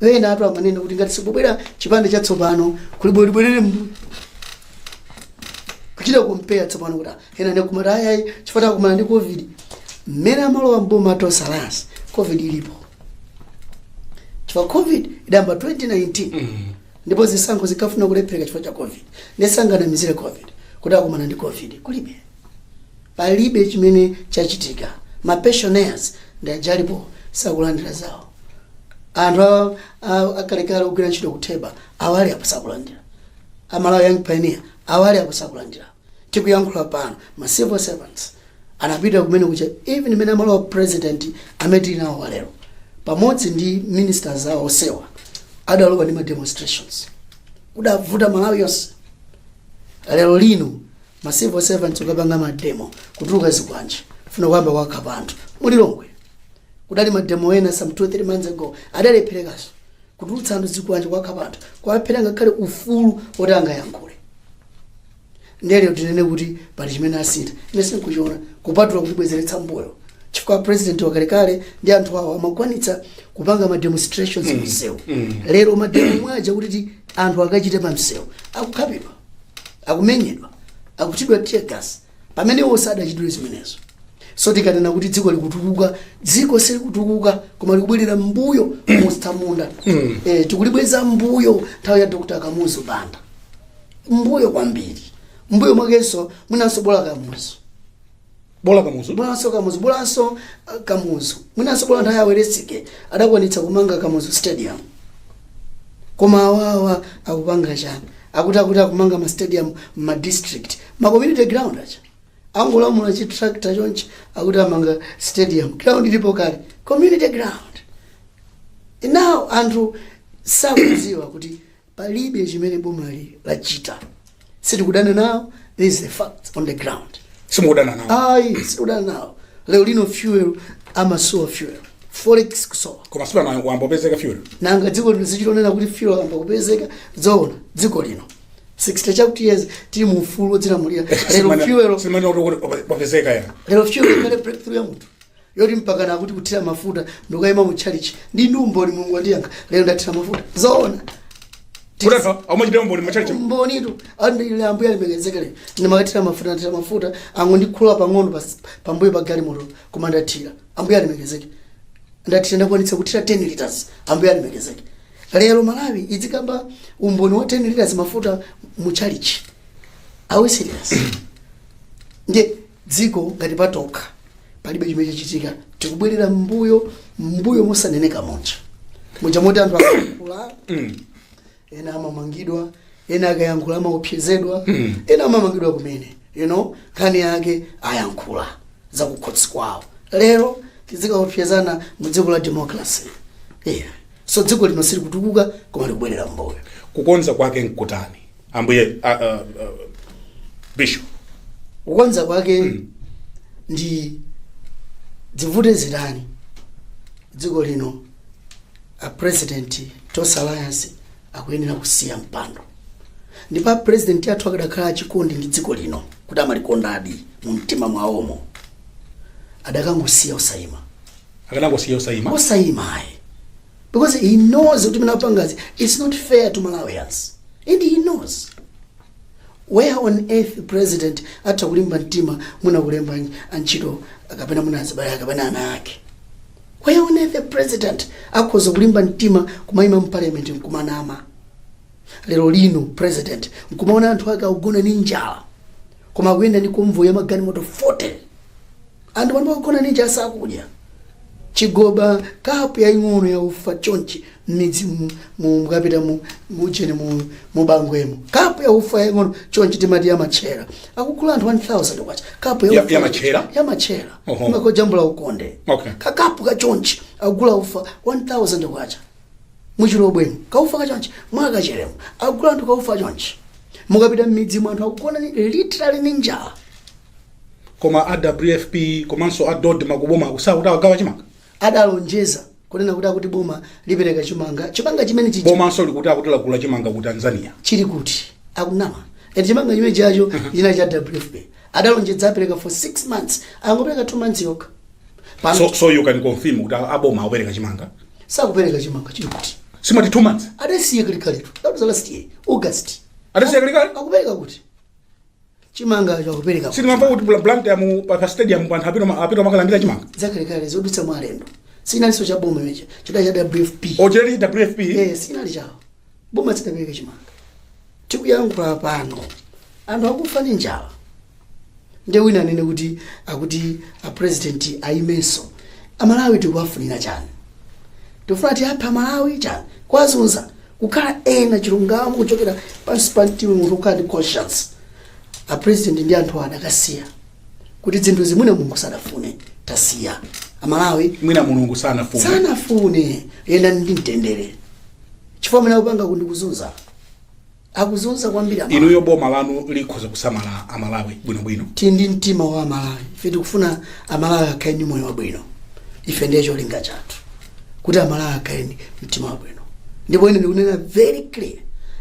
ena anthu amanena kuti ngati sikubwera chipani chatsopano kuli bwerere mbuyo kuchita compare tsopano kuti ena nkumati ayayi chifukwa takumana ndi covid mmene amalowa mboma tosalansi covid ilipo chifukwa covid idayamba 2019 ndipo zisankho zikafuna kulephereka chifukwa cha covid nde sanganamizire covid kuti akumana ndi covid kulibe palibe chimene chachitika mapensioners ndi awa ali apo sakulandira zawo anthu a- a- akalekale ogwira ntchito ku TEBA awa ali apo sakulandira a Malawi Young Pioneer awa ali uko sakulandira tikuyankhula pano ma civil servants anapita kumene kuja even mmene amalowa president amene tili nawo wa lero pamodzi ndi ministers awo onsewa adalowa ndi ma demonstrations kudavuta Malawi yonse lero lino ma civil servants kukapanga mademo kutuluka zikwanje kufuna kuyamba kuwakhapa anthu mu Lilongwe kudali mademo ena some 2 3 months ago adalepherekanso kutulutsa anthu zikwanje kuwakhapa anthu kuwaphera ngakhale ufulu woti angayankhule nde lero tinene kuti pali chimene asintha ine sinkuchiona kupatula kutibwezeretsa mbuyo chifukwa president wakalekale ndi anthu awo amakwanitsa kupanga ma demonstrations mm. msewu mm. lero mademo mwanja kuti ti anthu akachite pa msewu akukhapidwa akumenyedwa akuchitidwa tear gas pamene iwo sadachitire zimenezo so tikanena kuti dziko likutukuka dziko silikutukuka koma likubwerera mbuyo mu utsamunda eh, tikulibweza mbuyo nthawi ya dr kamuzu banda mbuyo kwambiri mbuyo mwakenso mwinanso bola kamuzu bola kamuzu bolanso kamuzu bolanso uh, kamuzu mwinanso bola nthawi ya welensky adakwanitsa kumanga kamuzu stadium koma awawa akupanga chani akuti akuti akumanga ma stadium m'ma district ma community ground acha angolimula chi tractor chonchi akuti amanga stadium ground ilipo kale community ground now anthu sakudziwa kuti palibe chimene bomali lachita sitikudana nawo this is the fact on the ground simukudana nawo ayi sitikudana nawo lero lino fuel amasowa fuel forex kusowa koma sipanayo kuyamba kupezeka fuel nanga dziko lino lizichita kunena kuti fuel wayamba kupezeka zoona dziko lino 60 chakuti years tili mu ufulu wodzilamulira lero fuel tizimanena kuti wapezeka ya lero fuel ikhale breakthrough ya munthu yoti mpakana akuti kuthira mafuta ndikukaima mu tchalitchi ndi ndi umboni mulungu wandiyankha lero ndathira mafuta zoona kuteroko amachita umboni mu church. umbonitu wanga ine ambuye alemekezeke lero ndimakathira mafuta ndathira mafuta angondikhulula pang'ono pas- pambuyo pa galimoto koma ndathira ambuye alemekezeke ndathira ndakwanitsa kuthira 10 liters ambuye alemekezeke lero malawi idzikamba umboni wa 10 liters mafuta mu chalichi are we serious ndiye dziko ngati patokha palibe chimene chachitika tikubwerera mbuyo mbuyo mosaneneka muja muja moti anthu akayankhula ena amamangidwa ena akayankhula amaopsezedwa ena amamangidwa kumene you know nkhani yake ayankhula zakukhosi kwawo lero tizikaopsezana mu dziko la democracy yeah. so dziko lino silikutukuka koma likubwerera mbuyo kukonza kwake nkutani ambuye a, a, a, bishop kukonza kwake ndi dzivute zitani dziko lino a president tonse alliance akuyenera kusiya mpando ndipo a president athu akadakhala achikondi ndi dziko lino kuti amalikondadi mu mtima mwawomo adakangosiya osayima akanangosiya osayima osayima ayi because he knows kuti zimene apangazi it's not fair to malawians and he knows where on earth president atha kulimba mtima kumangolemba antchito kapena mwina azibale kapena ana ake where on earth a president akhoza kulimba mtima kumayima mparliament nkumanama lero lino president nkumaona anthu ake akugona ni njala koma akuyenda ni convoy ya magalimoto 40 Anthu pano akugona ni njala sakudya. Chigoba, kapu yaing'ono ya ufa chonchi m'midzi mu- mu- mukapita mu- mujeni mu- mubangwemo kapu ya ufa yaing'ono chonchi timati yamatchera akugula anthu 1000 kwacha kapu Ya- ya ufa- yamatchera? yamatchera Oho. kumakojambula ukonde Okay. kakapu kachonchi akugula ufa 1000 kwacha muchilobwemo kaufa kachonchi mwakachelemo akugula anthu kaufa chonchi mukapita m'midzi mwa anthu akugona ni- literally ni njala koma a wfp komanso a dodma ku bomaku sakuti awagawa chimanga adalonjeza kunena kuti akuti boma lipereka chimanga chimanga chimene chija bomanso likuti akuti lagula chimanga ku tanzania chili kuti akunama eti chimanga chimene chacho china cha wfp adalonjeza apereka for 6 months angopereka 2 months yokha pano so, so you can confirm kuti a- aboma akupereka chimanga sakupereka chimanga chili kuti simati two months adasiye kali kaletu that was last year august adasiya kali kale akupereka kuti chimanga chakupereka sitinamva kuti bla- blank ya mu pa pa stadium panthu apita ma- apita makalandira chimanga zakalekale zodutsa mwa alendo sinalinso cha boma imenecho chidali cha wfp ochokera wfp Eh, sinali chawo boma sidapereke chimanga tikuyankhula pano anthu akufa ndi njala nde wina anene kuti akuti apresidenti ayimenso amalawi tikuwafunira chani tikufuna tiwaphe amalawi chani kwazunza kukhala ena chilungamo kuchokera pansi pa mtima munthu kukhala ndi conscience a president ndi anthu awo adakasiya kuti zinthu zimene mulungu sadafune tasiya amalawi mwina mulungu sanafuna sanafune yenda ndi mtendere chifukwa mene akupanga kundikuzunza akuzunza kwambiri amalawi. inuyo boma lanu likhoza kusamala amalawi bwinobwino tili ndi mtima wa amalawi ife tikufuna amalawi akhale ndi moyo wabwino ife ndiye cholinga chathu kuti amalawi akhale ndi mtima wabwino ndipo ine ndikunena very clear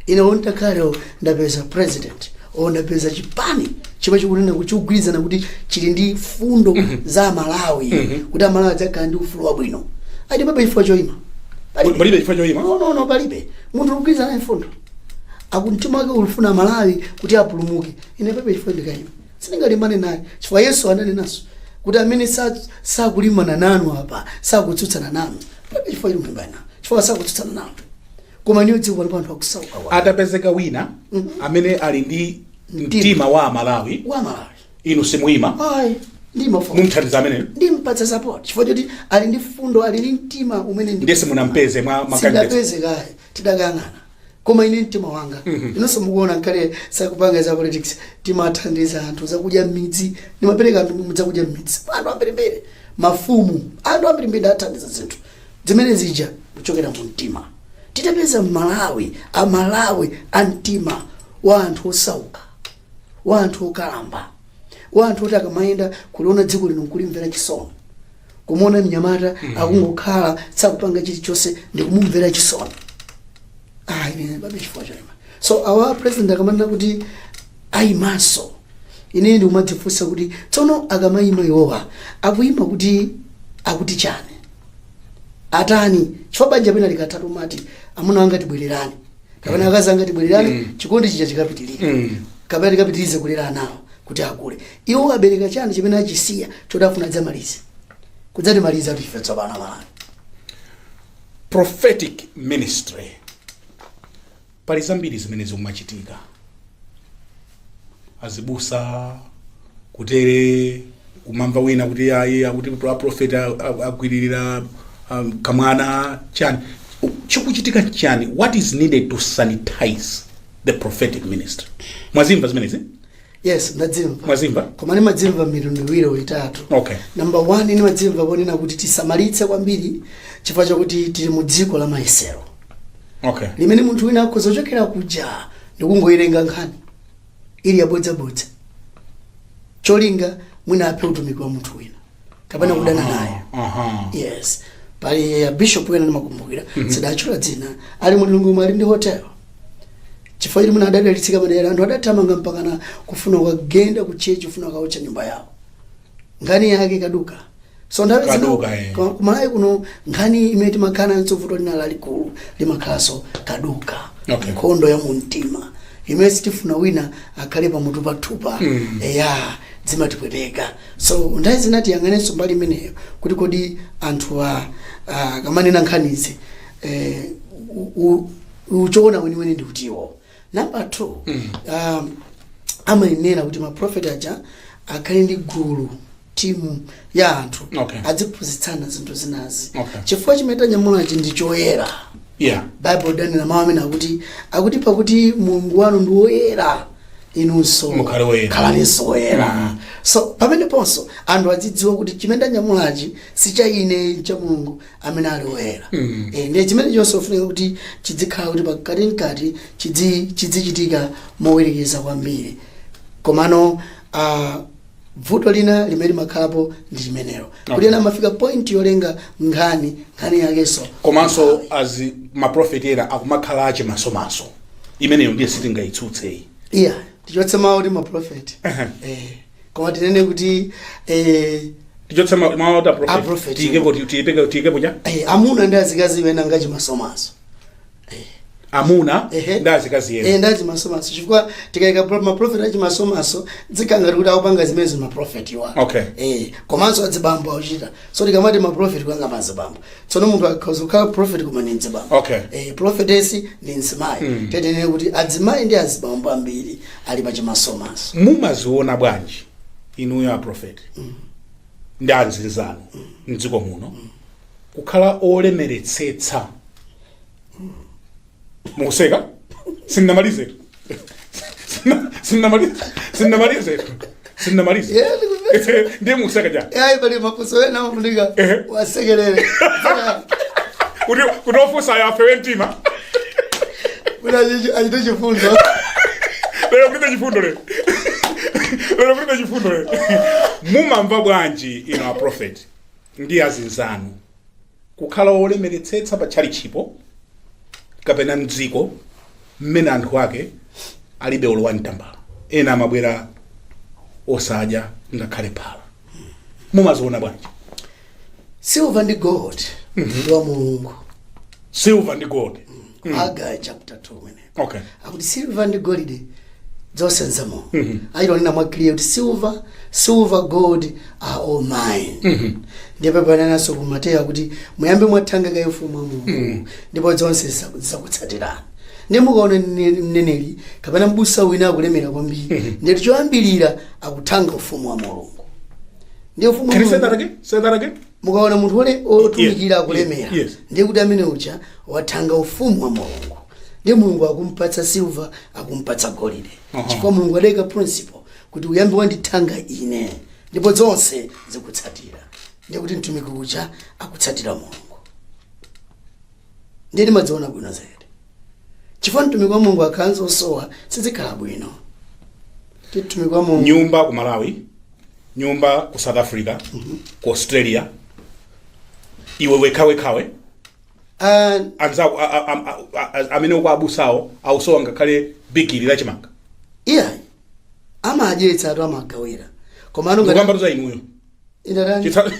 ine olo takalowa ndapeza president o ndapeza chipani chomwe chikunena kuti chikugwirizana kuti chili ndi fundo za amalawi kuti amalawi adzakhala ndi ufulu wabwino ati palibe chifukwa choima Palibe. Palibe chifukwa choima? no no no palibe munthu ukugwirizana ndi fundo akumtima wake akufuna amalawi kuti apulumuke ine palibe chifukwa ndikaima Sindingalimbane naye chifukwa Yesu ananenanso kuti amene sa- sakulimbana nanu apa sakutsutsana nanu Palibe chifukwa choti mulimbane nawo chifukwa sakutsutsana nanu koma niyo dziko pali anthu akusauka wa- atapezeka wina amene ali ndi mtima wa amalawi wa malawi inu simuyima ayi ndi mafumu mumthandiza ameneyo ndimpatsa support chifukwa choti ali ndi fundo ali ndi mtima umene ndi- nde simunampeze mwa makandidate sindapeze kaye tidakangana koma ine mtima wanga inonso mukuona nkale sakupanganso za politics timathandiza anthu zakudya mmidzi ndimapereka anthu zakudya mmidzi anthu ambirimbiri mafumu anthu ambirimbiri ndathandiza zinthu zimene zija kuchokera mu mtima titapeza mmalawi amalawi a mtima wa anthu osauka wa anthu okalamba wa anthu oti akamayenda kuliona dziko lino nkulimvera chisoni kumuona mnyamata akungokhala sakupanga chilichonse ndikumumvera chisoni ah ine ndibabe chifukwa choima so awa president akamanena kuti ayimanso ine ndikumadzifunsa kuti tsono akamayima iwowa akuyima kuti akuti chani atani chifukwa banja pena likatatu umati amuna anga tibwererane kapena akazi anga tibwererane chikondi chija chikapitirire kapena tikapitirize kulera anawo kuti akule iwo abereka chani chimene achisiya choti afuna adzamalize kudzatimaliza kuti ife tsopano malawi prophetic ministry pali zambiri zimene zikumachitika azibusa kuteroko kumamva wina kuti ayi akuti aprofeti agwiririra um, kamwana chani U- chikuchitika chani what is needed to sanitize the prophetic ministry mwazimva zimenezi yes ndadzimva mwazimva koma ndimadzimva mitundu iwiri itatu okay namba 1 ndimadzimva ponena kuti tisamalitse kwambiri chifukwa chakuti tili mu dziko la mayesero okay limene munthu wina akhoza kuchokera kuja ndikungoyilenga nkhani ili yabodzabodza cholinga mwina aphe utumiki wa munthu wina kapena kudana naye Aha. yes pali abishop wina ndimakumbukira sinditchula dzina ali mu lilongwe ali ndi hotelo chifukwa chiti muna adadalitsika madera anthu adathamanga mpakana kufuna kukagenda ku chechi kufuna kaotcha nyumba yawo nkhani yake kaduka so nthawi zina Kaduka, eh. kwa- kumalawi kuno nkhani imene timakhala nanso vuto lina lalikulu limakhalanso kaduka Okay. nkhondo ya mumtima imene sitifuna wina akhale pamutu pathupa eya zimatipweteka So nthawi zina tiyang'anenso mbali imeneyo kuti kodi anthuwa ah, akamanena nkhanizi eh, u- u- uchoona weniweni ndi utiwo namba two um, amayenera kuti maprofeti aja akhale ndi gulu timu ya anthu Okay. adziphunzitsana zinthu zinazi Okay. chifukwa chimene tanyamulachi ndi choyera yeah baibulo lidanena mawu amene akuti akuti pakuti mulungu wanu ndi woyera inunso Mukhale woyera. khalaninso woyera so pameneponso anthu adzidziwa kuti chimene ndanyamulachi si cha ine ncha mulungu amene ali woyera Eh, ndiye chimene chonse chofunika kuti chidzikhala kuti pakati mkati chidzi- chidzichitika mowerekeza kwambiri komano ah, bvuto lina limene limakhalapo ndi limenelo kuti ena amafika point yolenga nkhani nkhani yakenso komanso azi maprofeti ena akumakhala achimasomaso imeneyo ndiye sitingayitsutseyi iya tichotse mawu kuti maprofeti eh, koma tinene kuti eh, tichotse ma- mawu oti Aprofeti. aprofeti tiyikepo tiyipeke- tiyikepo ja eh, amuna ndi azikazi ena ndi achimasomaso amuna Ehe. ndi azikazi Eh, ena ndi achimasomaso chifukwa tikayika pro- maprofeti achimasomaso zikhala ngati kuti akupanga zimenezi maprofetiwa Okay. eh, komanso adzibambo akuchita so tikamati maprofeti kuyang'ana mazibambo tsono munthu akhoza kukhala profeti koma ndi mdzibambo Okay. eh, profetesi ndi mzimayi tinene kuti adzimayi ndi azibambo ambiri ali pa chimasomaso mumaziona bwanji inuyo aprofeti ndi azinzanu mdziko muno kukhala olemeretsetsa mukuseka sindinamalize Sindina- sindinamalize sindinamalize sindinamalize Yeah, ndikuve- ndiye mukuseka ja yayi pali mafunso ena ofunika Ehe. kusekerera kuti kuti ofunsayo afewe mtima kuti achi- achite chifundo lero kulibe chifundo lero lero kulibe chifundo lero mumamva bwanji inu a prophet ndi azinzanu kukhala wolemeretsetsa pa tchalitchipo kapena mdziko mmene anthu ake alibe olowa mtambala ena amabwera osadya ngakhale phala mumaziona bwanji silver ndi gold ndi wa mulungu silver ndi gold Hagai chapter 2 mene okay akuti silver ndi golide zonse nzanga achita kunena mwa clear kuti silver silver gold are all mine ndipo penanso ku mateyu akuti muyambe mwathanga kaye ufumu wa mulungu ndipo zonse zisa- zizakutsatirani ndiye mukaona mne- mneneri kapena mbusa wina akulemera kwambiri ndiye kuti choyambirira akuthanga ufumu wa mulungu ndiye ufumu wa can you say mulungu- that again say that again Mukaona munthu wole- wotumikira akulemera yes. ndiye kuti amene uja wathanga ufumu wa mulungu ndiye mulungu akumpatsa silva akumpatsa golide chifukwa mulungu adaika principle kuti uyambe wandithanga ine ndipo zonse zikutsatira ndiye kuti mtumiki uja akutsatira mulungu ndiye ndimadziona bwino zedi chifukwa mtumiki wa mulungu akakhala osowa sizikhala bwino ndi mtumiki wa mulungu nyumba ku malawi nyumba ku south africa ku australia iwe wekhawekhawe Ah, anzako a- a- a- a- a- amene uko abusawo akusowa ngakhale bigiri la chimanga iyayi amadyetsa anthu amagawira komano ngati ndikukamba za inuyo ine tani Chitsa-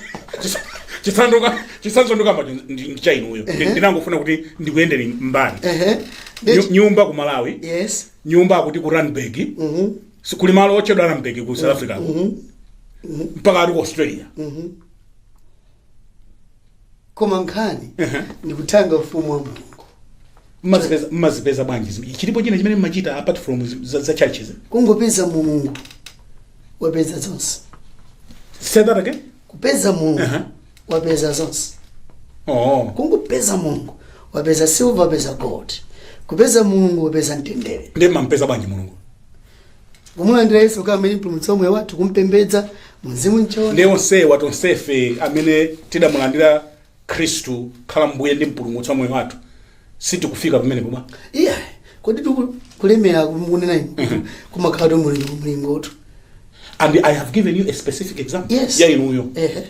chitsa- chitsanzo ndikukamba chitsanzo ndikukamba ndicha inuyo Ndi- ndinangofuna kuti ndikuyendere mbali ehe Nyu- Ndeti- nyumba ku malawi yes nyumba akuti ku randburg mhm Si- kuli malo otchedwa randburg ku south africa mpaka ali ku australia koma nkhani Ehe. ndikuthanga ufumu wa mulungu mumazipeza mumazipeza bwanji zim- chilipo china chimene mumachita apart from zi- za, za churches kungopeza mulungu wapeza zonse say that again kupeza mulungu Aha. wapeza zonse oh kungopeza mulungu wapeza silver wapeza gold kupeza mulungu wapeza mtendere ndiye mumampeza bwanji mulungu kumulandira yesu kukhala mpulumutsi wa moyo wathu kumpembedza mumzimu m'choonadi ndiye onsewa tonsefe amene tidamulandira khristu kukhala mbuye ndi mpulumutsi wa moyo wathu sitikufika pamene pomwe iya kodi tiku- kulemera mukunena inu kumakhalatu mlingo mlingotu and i have given you a specific example Yes. ya inuyo ehe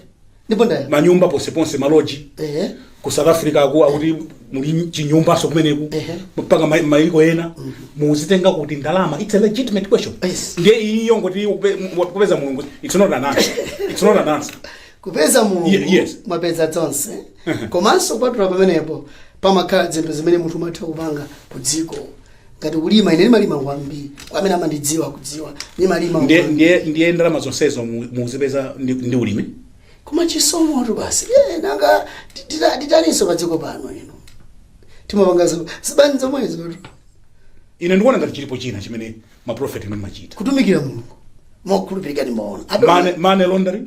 ndipo ndaya manyumba ponseponse maloji ehe ku south africa aku akuti muli chinyumbanso kumeneko Ehe. mpaka ma- maiko ena mukuzitenga kuti ndalama its a legitimate question Yes. ndiye iyo yoti kupe- mu- kupeza mulungu its not an answer its not an answer kupeza mulungu Ye- yes. mwapeza zonse komanso kupatula pamenepo pamakhala zinthu zimene munthu umatha kupanga ku dziko ngati kulima ine ndimalima kwambiri kwa amene amandidziwa akudziwa ndimalima ndiye kwambiri. ndiye ndiye ndalama zonsezo mu- mukuzipeza ndi, ndi ulimi koma chisomotu basi Eh, nanga tita- titalinso padziko pano ife timapanga zo- zibizinesi zomwezotu. ine ndikuona ngati chilipo china chimene maprofeti inu mumachita kutumikira mulungu mokhulupirika ndimaona Ape- money, money laundering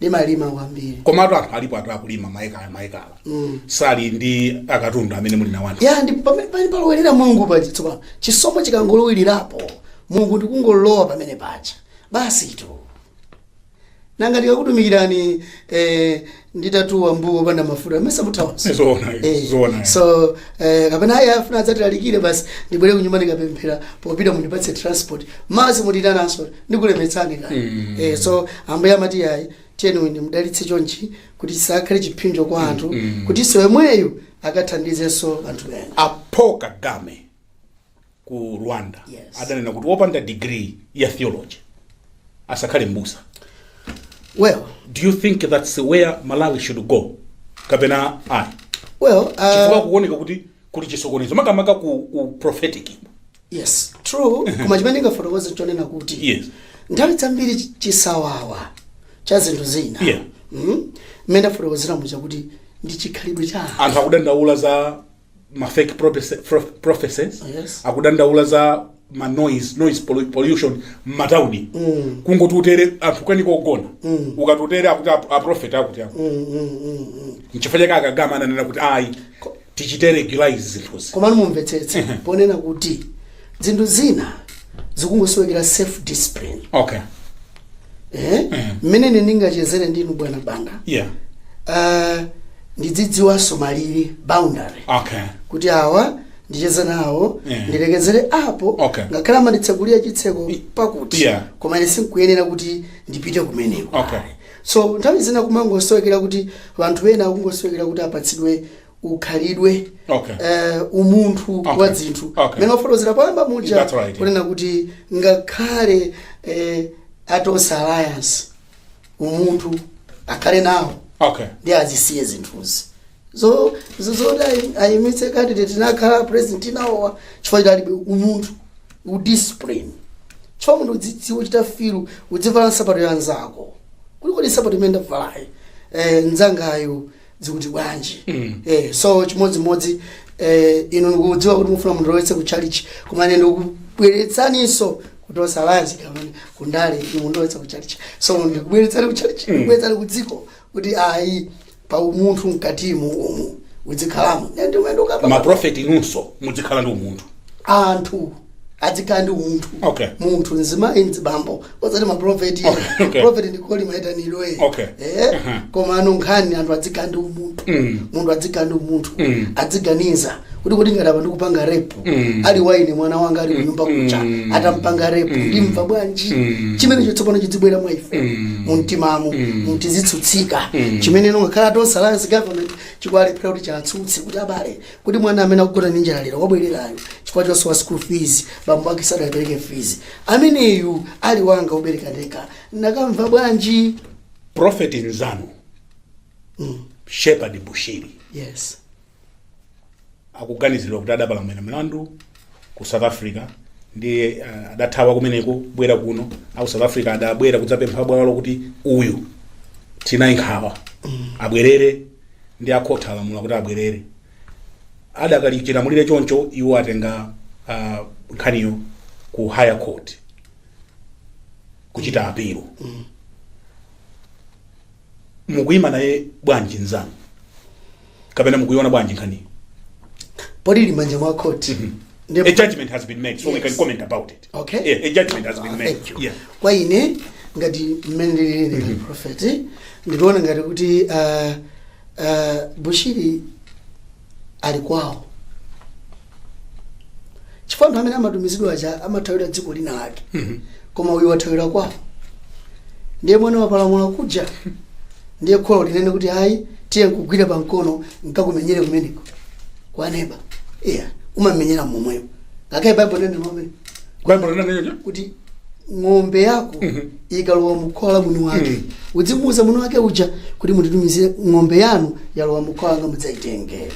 ndimalima kwambiri komatu anthu alipo anthu akulima maekala maekala sali ndi akatundu amene muli nawo anthu ya ndi pamene pali polowerera mulungu paja tsopano chisomo chikangolowererapo mulungu ndikungolowa pamene paja basitu nanga ndikakutumikirani eh, nditatuwa mbuwo opanda mafuta mesa muthawanso Zoona, Eh, zoona. so eh, kapena ayi afuna adzatilalikire basi ndibwere kunyumba ndikapemphera popita mundipatse transport mesa simundiitananso ndikulemetsani ka Mm. eh, so ambuye amati ayi tiyeni ndimudalitse chonchi kuti asakhale chiphinjo kwa anthu Mm. kutinso yemweyo akathandizenso anthu ena paul kagame ku rwanda Yes. adanena kuti wopanda degree ya theology asakhale mbusa well do you think that's where malawi should go kapena ayi well chifukwa uh, kuoneka kuti kuli chisokonezo makamaka ku, ku prophetic yes true koma chimene ndingafotokoze chonena kuti Yes. nthawi zambiri chi- chisawawa cha zinthu zina Yeah. Mhm. mmene ndafotokozera muja kuti ndi chikhalidwe cha anthu. anthu akudandaula za ma fake prophecy- pro- prophecies Yes. akudandaula za ma noise noise pollu- pollution m'matauni kungoti utere anthu kweni kogona ukatotere akuti ap- aprofeti akuti ako nchifukwa chake aKagame ananena kuti ayi tichite regularize zinthuzi komano mumvetsetse ponena kuti zinthu zina zikungosowekera self discipline okay eh? mmene ine ndingachezere ndinu bwana banda yeah uh, ndidzidziwanso malire boundary okay kuti awa ndicheze nawo Eh. ndilekezere apo Okay. ngakhale amanditsekulira chitseko pakuti Yeah. koma ine sinkuyenera kuti ndipite kumeneko Okay. so nthawi zina kumangosowekera kuti vanthu ena akungosowekera kuti apatsidwe ukhalidwe Okay. eh, umunthu Okay. wa dzinthu Okay. mmene wafotokozera poyamba muja That's right, yeah. kunena kuti ngakhale eh, atonse alliance umunthu akhale nawo okay ndiye azisiye zinthuzi zo zo- zoti ayi- ayimitse candidate nakhala president nawowa chifukwa alibe umunthu udiscipline chifukwa munthu udzidziwa uchita filu udzivala nsapato ya nzako kulikodi nsapato imene ndavalayo eh, nzangayo zikuti bwanji eh, so chimodzimodzi eh, inu ndikudziwa kuti mufuna mundilowetse ku tchalitchi koma ine ndikubweretsaninso kuti tonse alliance kamene kundale inu mundilowetse ku tchalitchi so ndikubweretsani ku tchalitchi ndikubweretsani ku dziko kuti ayi pa umunthu mkatimu umu udzikhalamo Nde ndimene ndikukamba maprofeti inunso mudzikhala ndi umunthu anthu adzikhala ndi umunthu Okay. munthu mzimayi mzibambo osati maprofeti Okay, okay. profeti ndi call maitaniro e Okay. eh? Aha. koma ano nkhani anthu adzikhala ndi umunthu Mm. munthu adzikhala ndi umunthu Mm. adziganiza kuti kuti ngati apa ndikupanga rape Mm. ali wa ine mwana wanga ali kunyumba kuja Mm. atampanga rape Mm. ndimva bwanji Mm. chimenecho tsopano chidzibwera mwa ife Mm. mumtimamo Mm. mumtidzitsutsika Mm. chimene ngakhale atonse alliance government chikulephera kuti chatsutse kuti abale kuti mwana amene akugona ndi njala lero wabwererayo chifukwa chosowa school fees bambo ake sadapereke fees ameneyu ali wanga wobereka ndekha nakamva bwanji prophet nzanu mm. shepherd bushiri yes akuganizidwa kuti adapalamula mlandu ku south africa ndiye uh, adathawa kumeneko kubwera kuno aku south africa adabwera kudzapempha bwalo kuti uyu tinaye nkhawa abwerere ndiye akhoti alamula kuti abwerere adakali chilamulire choncho iwo atenga uh, nkhaniyo ku higher court kuchita apilo mukuyima naye bwanji nzanu kapena mukuiona bwanji nkhaniyo poti ili mmanja mwa khoti Ndipo- a judgment has been made so we Yes. can comment about it Okay. yeah, a judgment has been Ah, made thank you. yeah. kwa ine ngati mmene ndilili ine prophet ndikuona ngati kuti ah, ah, bushiri ali kwawo chifukwa anthu amene amatumizidwa aja amathawira dziko lina lake koma uyu wathawira kwawo ndiye mwana wapalamula kuja ndiye kholo anene kuti ayi tiye nkugwira pa mkono nkakumenyere kumeneko kwa neba iya umamenyera momweyo ngakhale baibulo nene momwe baibulo linanena kuti ng'ombe yako ikalowa mukhola la mwini wake udzimuuza mwini wake uja kuti munditumizire ng'ombe yanu yalowa mukhola langa mudzayitengere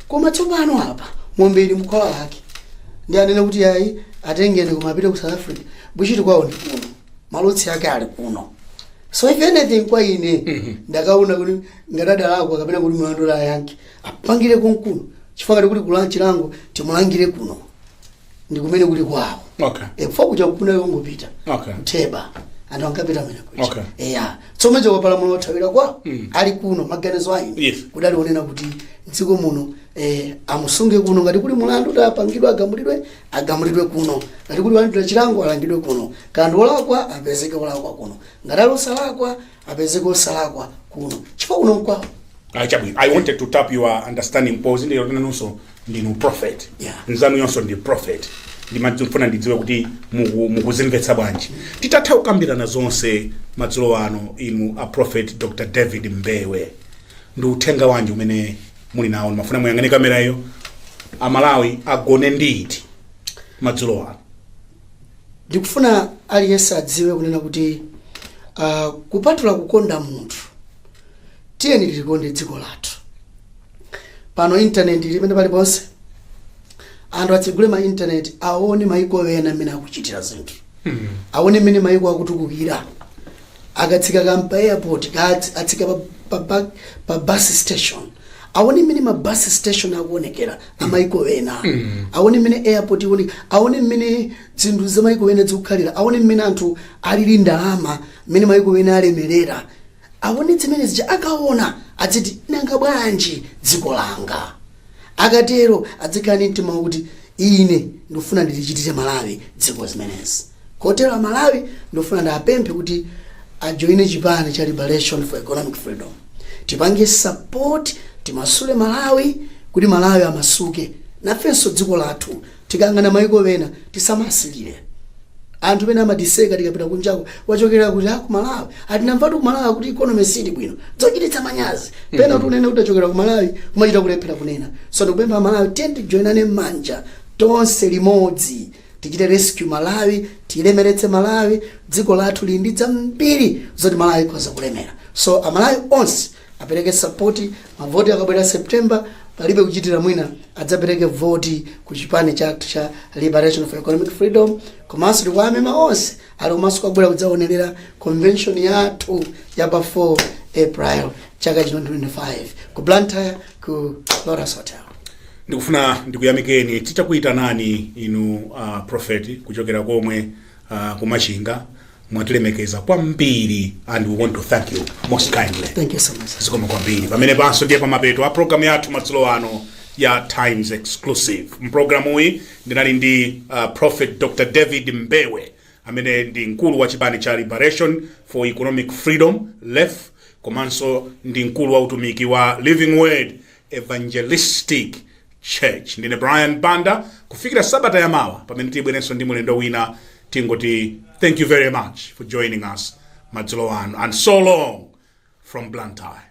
koma tsopano apa ng'ombe ili mkhola lake ndi anene kuti ayi atengeni kumapita ku south africa bushiri kwawo ndi kuno ma roots ake ali kuno so if anything kwa ine ndikaona kuti ngati adalakwa kapena kuti mlandu ayankhe apangire konkuno chifukwa ngati kuli kulandira chilango timulangire kuno ndi kumene kuli kwawo Okay. e, kufa kuja kunali kongopita Okay. ku theba anthu ankapita kumene kuja Okay. eya so mwachoka wapalamula wathawira kwawo Mm. ali kuno maganizo anga Yes. kudali konena kuti mdziko muno eh, amusunge kuno ngati kuli mulandu kuti apangidwe agamulidwe agamulidwe kuno ngati kuli kulandira chilango alangidwe kuno ngati ndi wolakwa apezeke wolakwa kuno ngati ali osalakwa apezeke osalakwa kuno chifukwa kuno nkwawo Ah, chabwino i wanted to tap your understanding because ndinu nanunso ndinu prophet Yeah. mnzanuyonso ndi prophet ndimafuna ndidziwe kuti muku- mukuzimvetsa bwanji titatha kukambirana zonse madzulo ano inu a prophet dr david mbewe ndi uthenga wanji umene muli nawo ndimafuna muyang'ane kamerayo amalawi agone ndi ziti madzulo ano ndikufuna aliyense adziwe kunena kuti uh, kupatula kukonda munthu tiyeni tilikonde dziko lathu pano intaneti ili pena paliponse anthu atsegule ma intaneti aone maiko ena mmene akuchitira zinthu aone mmene maiko akutukukira akatsika kaya pa airport kaya atsika pa, pa, pa, pa bus station aone mmene ma bus station akuonekera amaiko ena aone mmene airport ikuonekera aone mmene zinthu za maiko ena zikukhalira aone mmene anthu alili ndi ndalama mmene maiko ena alemerera aone zimene zija akaona adziti nanga bwanji dziko langa akatero adzikhala ndi mtima wakuti ine ndikufuna ndilichitire malawi dziko zimenezi kotero amalawi ndikufuna ndiapemphe kuti ajoine chipani cha liberation for economic freedom tipange support timasule malawi kuti malawi amasuke nafenso dziko lathu Tikayang'ana maiko ena tisamasilire. Anthu pena amatiseka tikapita kunjako wachokera kuti ku Malawi. Aa tinamvatu ku Malawi kuti economy sili bwino. Zochititsa manyazi. Pena kuti unene kuti wachokera ku Malawi kumachita kulephera kunena. So ndikupempha a Malawi tiyeni tijoinane manja tonse limodzi. Tichite rescue Malawi, tilemeretse Malawi, dziko lathu lili ndi zambiri zoti Malawi ikhoza kulemera. So a Malawi onse apereke support mavoti akabwera september palibe kuchitira mwina adzapereke voti ku chipani chathu cha liberation for economic freedom komanso tikuwamema onse ali komanso kubwera kudzaonerera convention yathu ya pa 4 april chaka chino 2025 ku blantyre ku loras hotel ndikufuna ndikuyamikeni titakuyitanani inu uh, prophet kuchokera konko uh, kumachinga mwatilemekeza kwambiri and we want to thank you most kindly Thank you so much. zikomo kwambiri pamenepanso ndiye pamapeto a programu yathu madzulo ano ya times exclusive mprogramu iyi ndinali ndi uh, prophet dr david mbewe amene ndi mkulu wa chipani cha liberation for economic freedom lef komanso ndi mkulu wa utumiki wa living word Evangelistic Church. Ndine Brian Banda, kufikira sabata ya mawa pamene tidzabwerenso ndi mulendo wina, tingoti thank you very much for joining us madzulo ano and so long from Blantyre.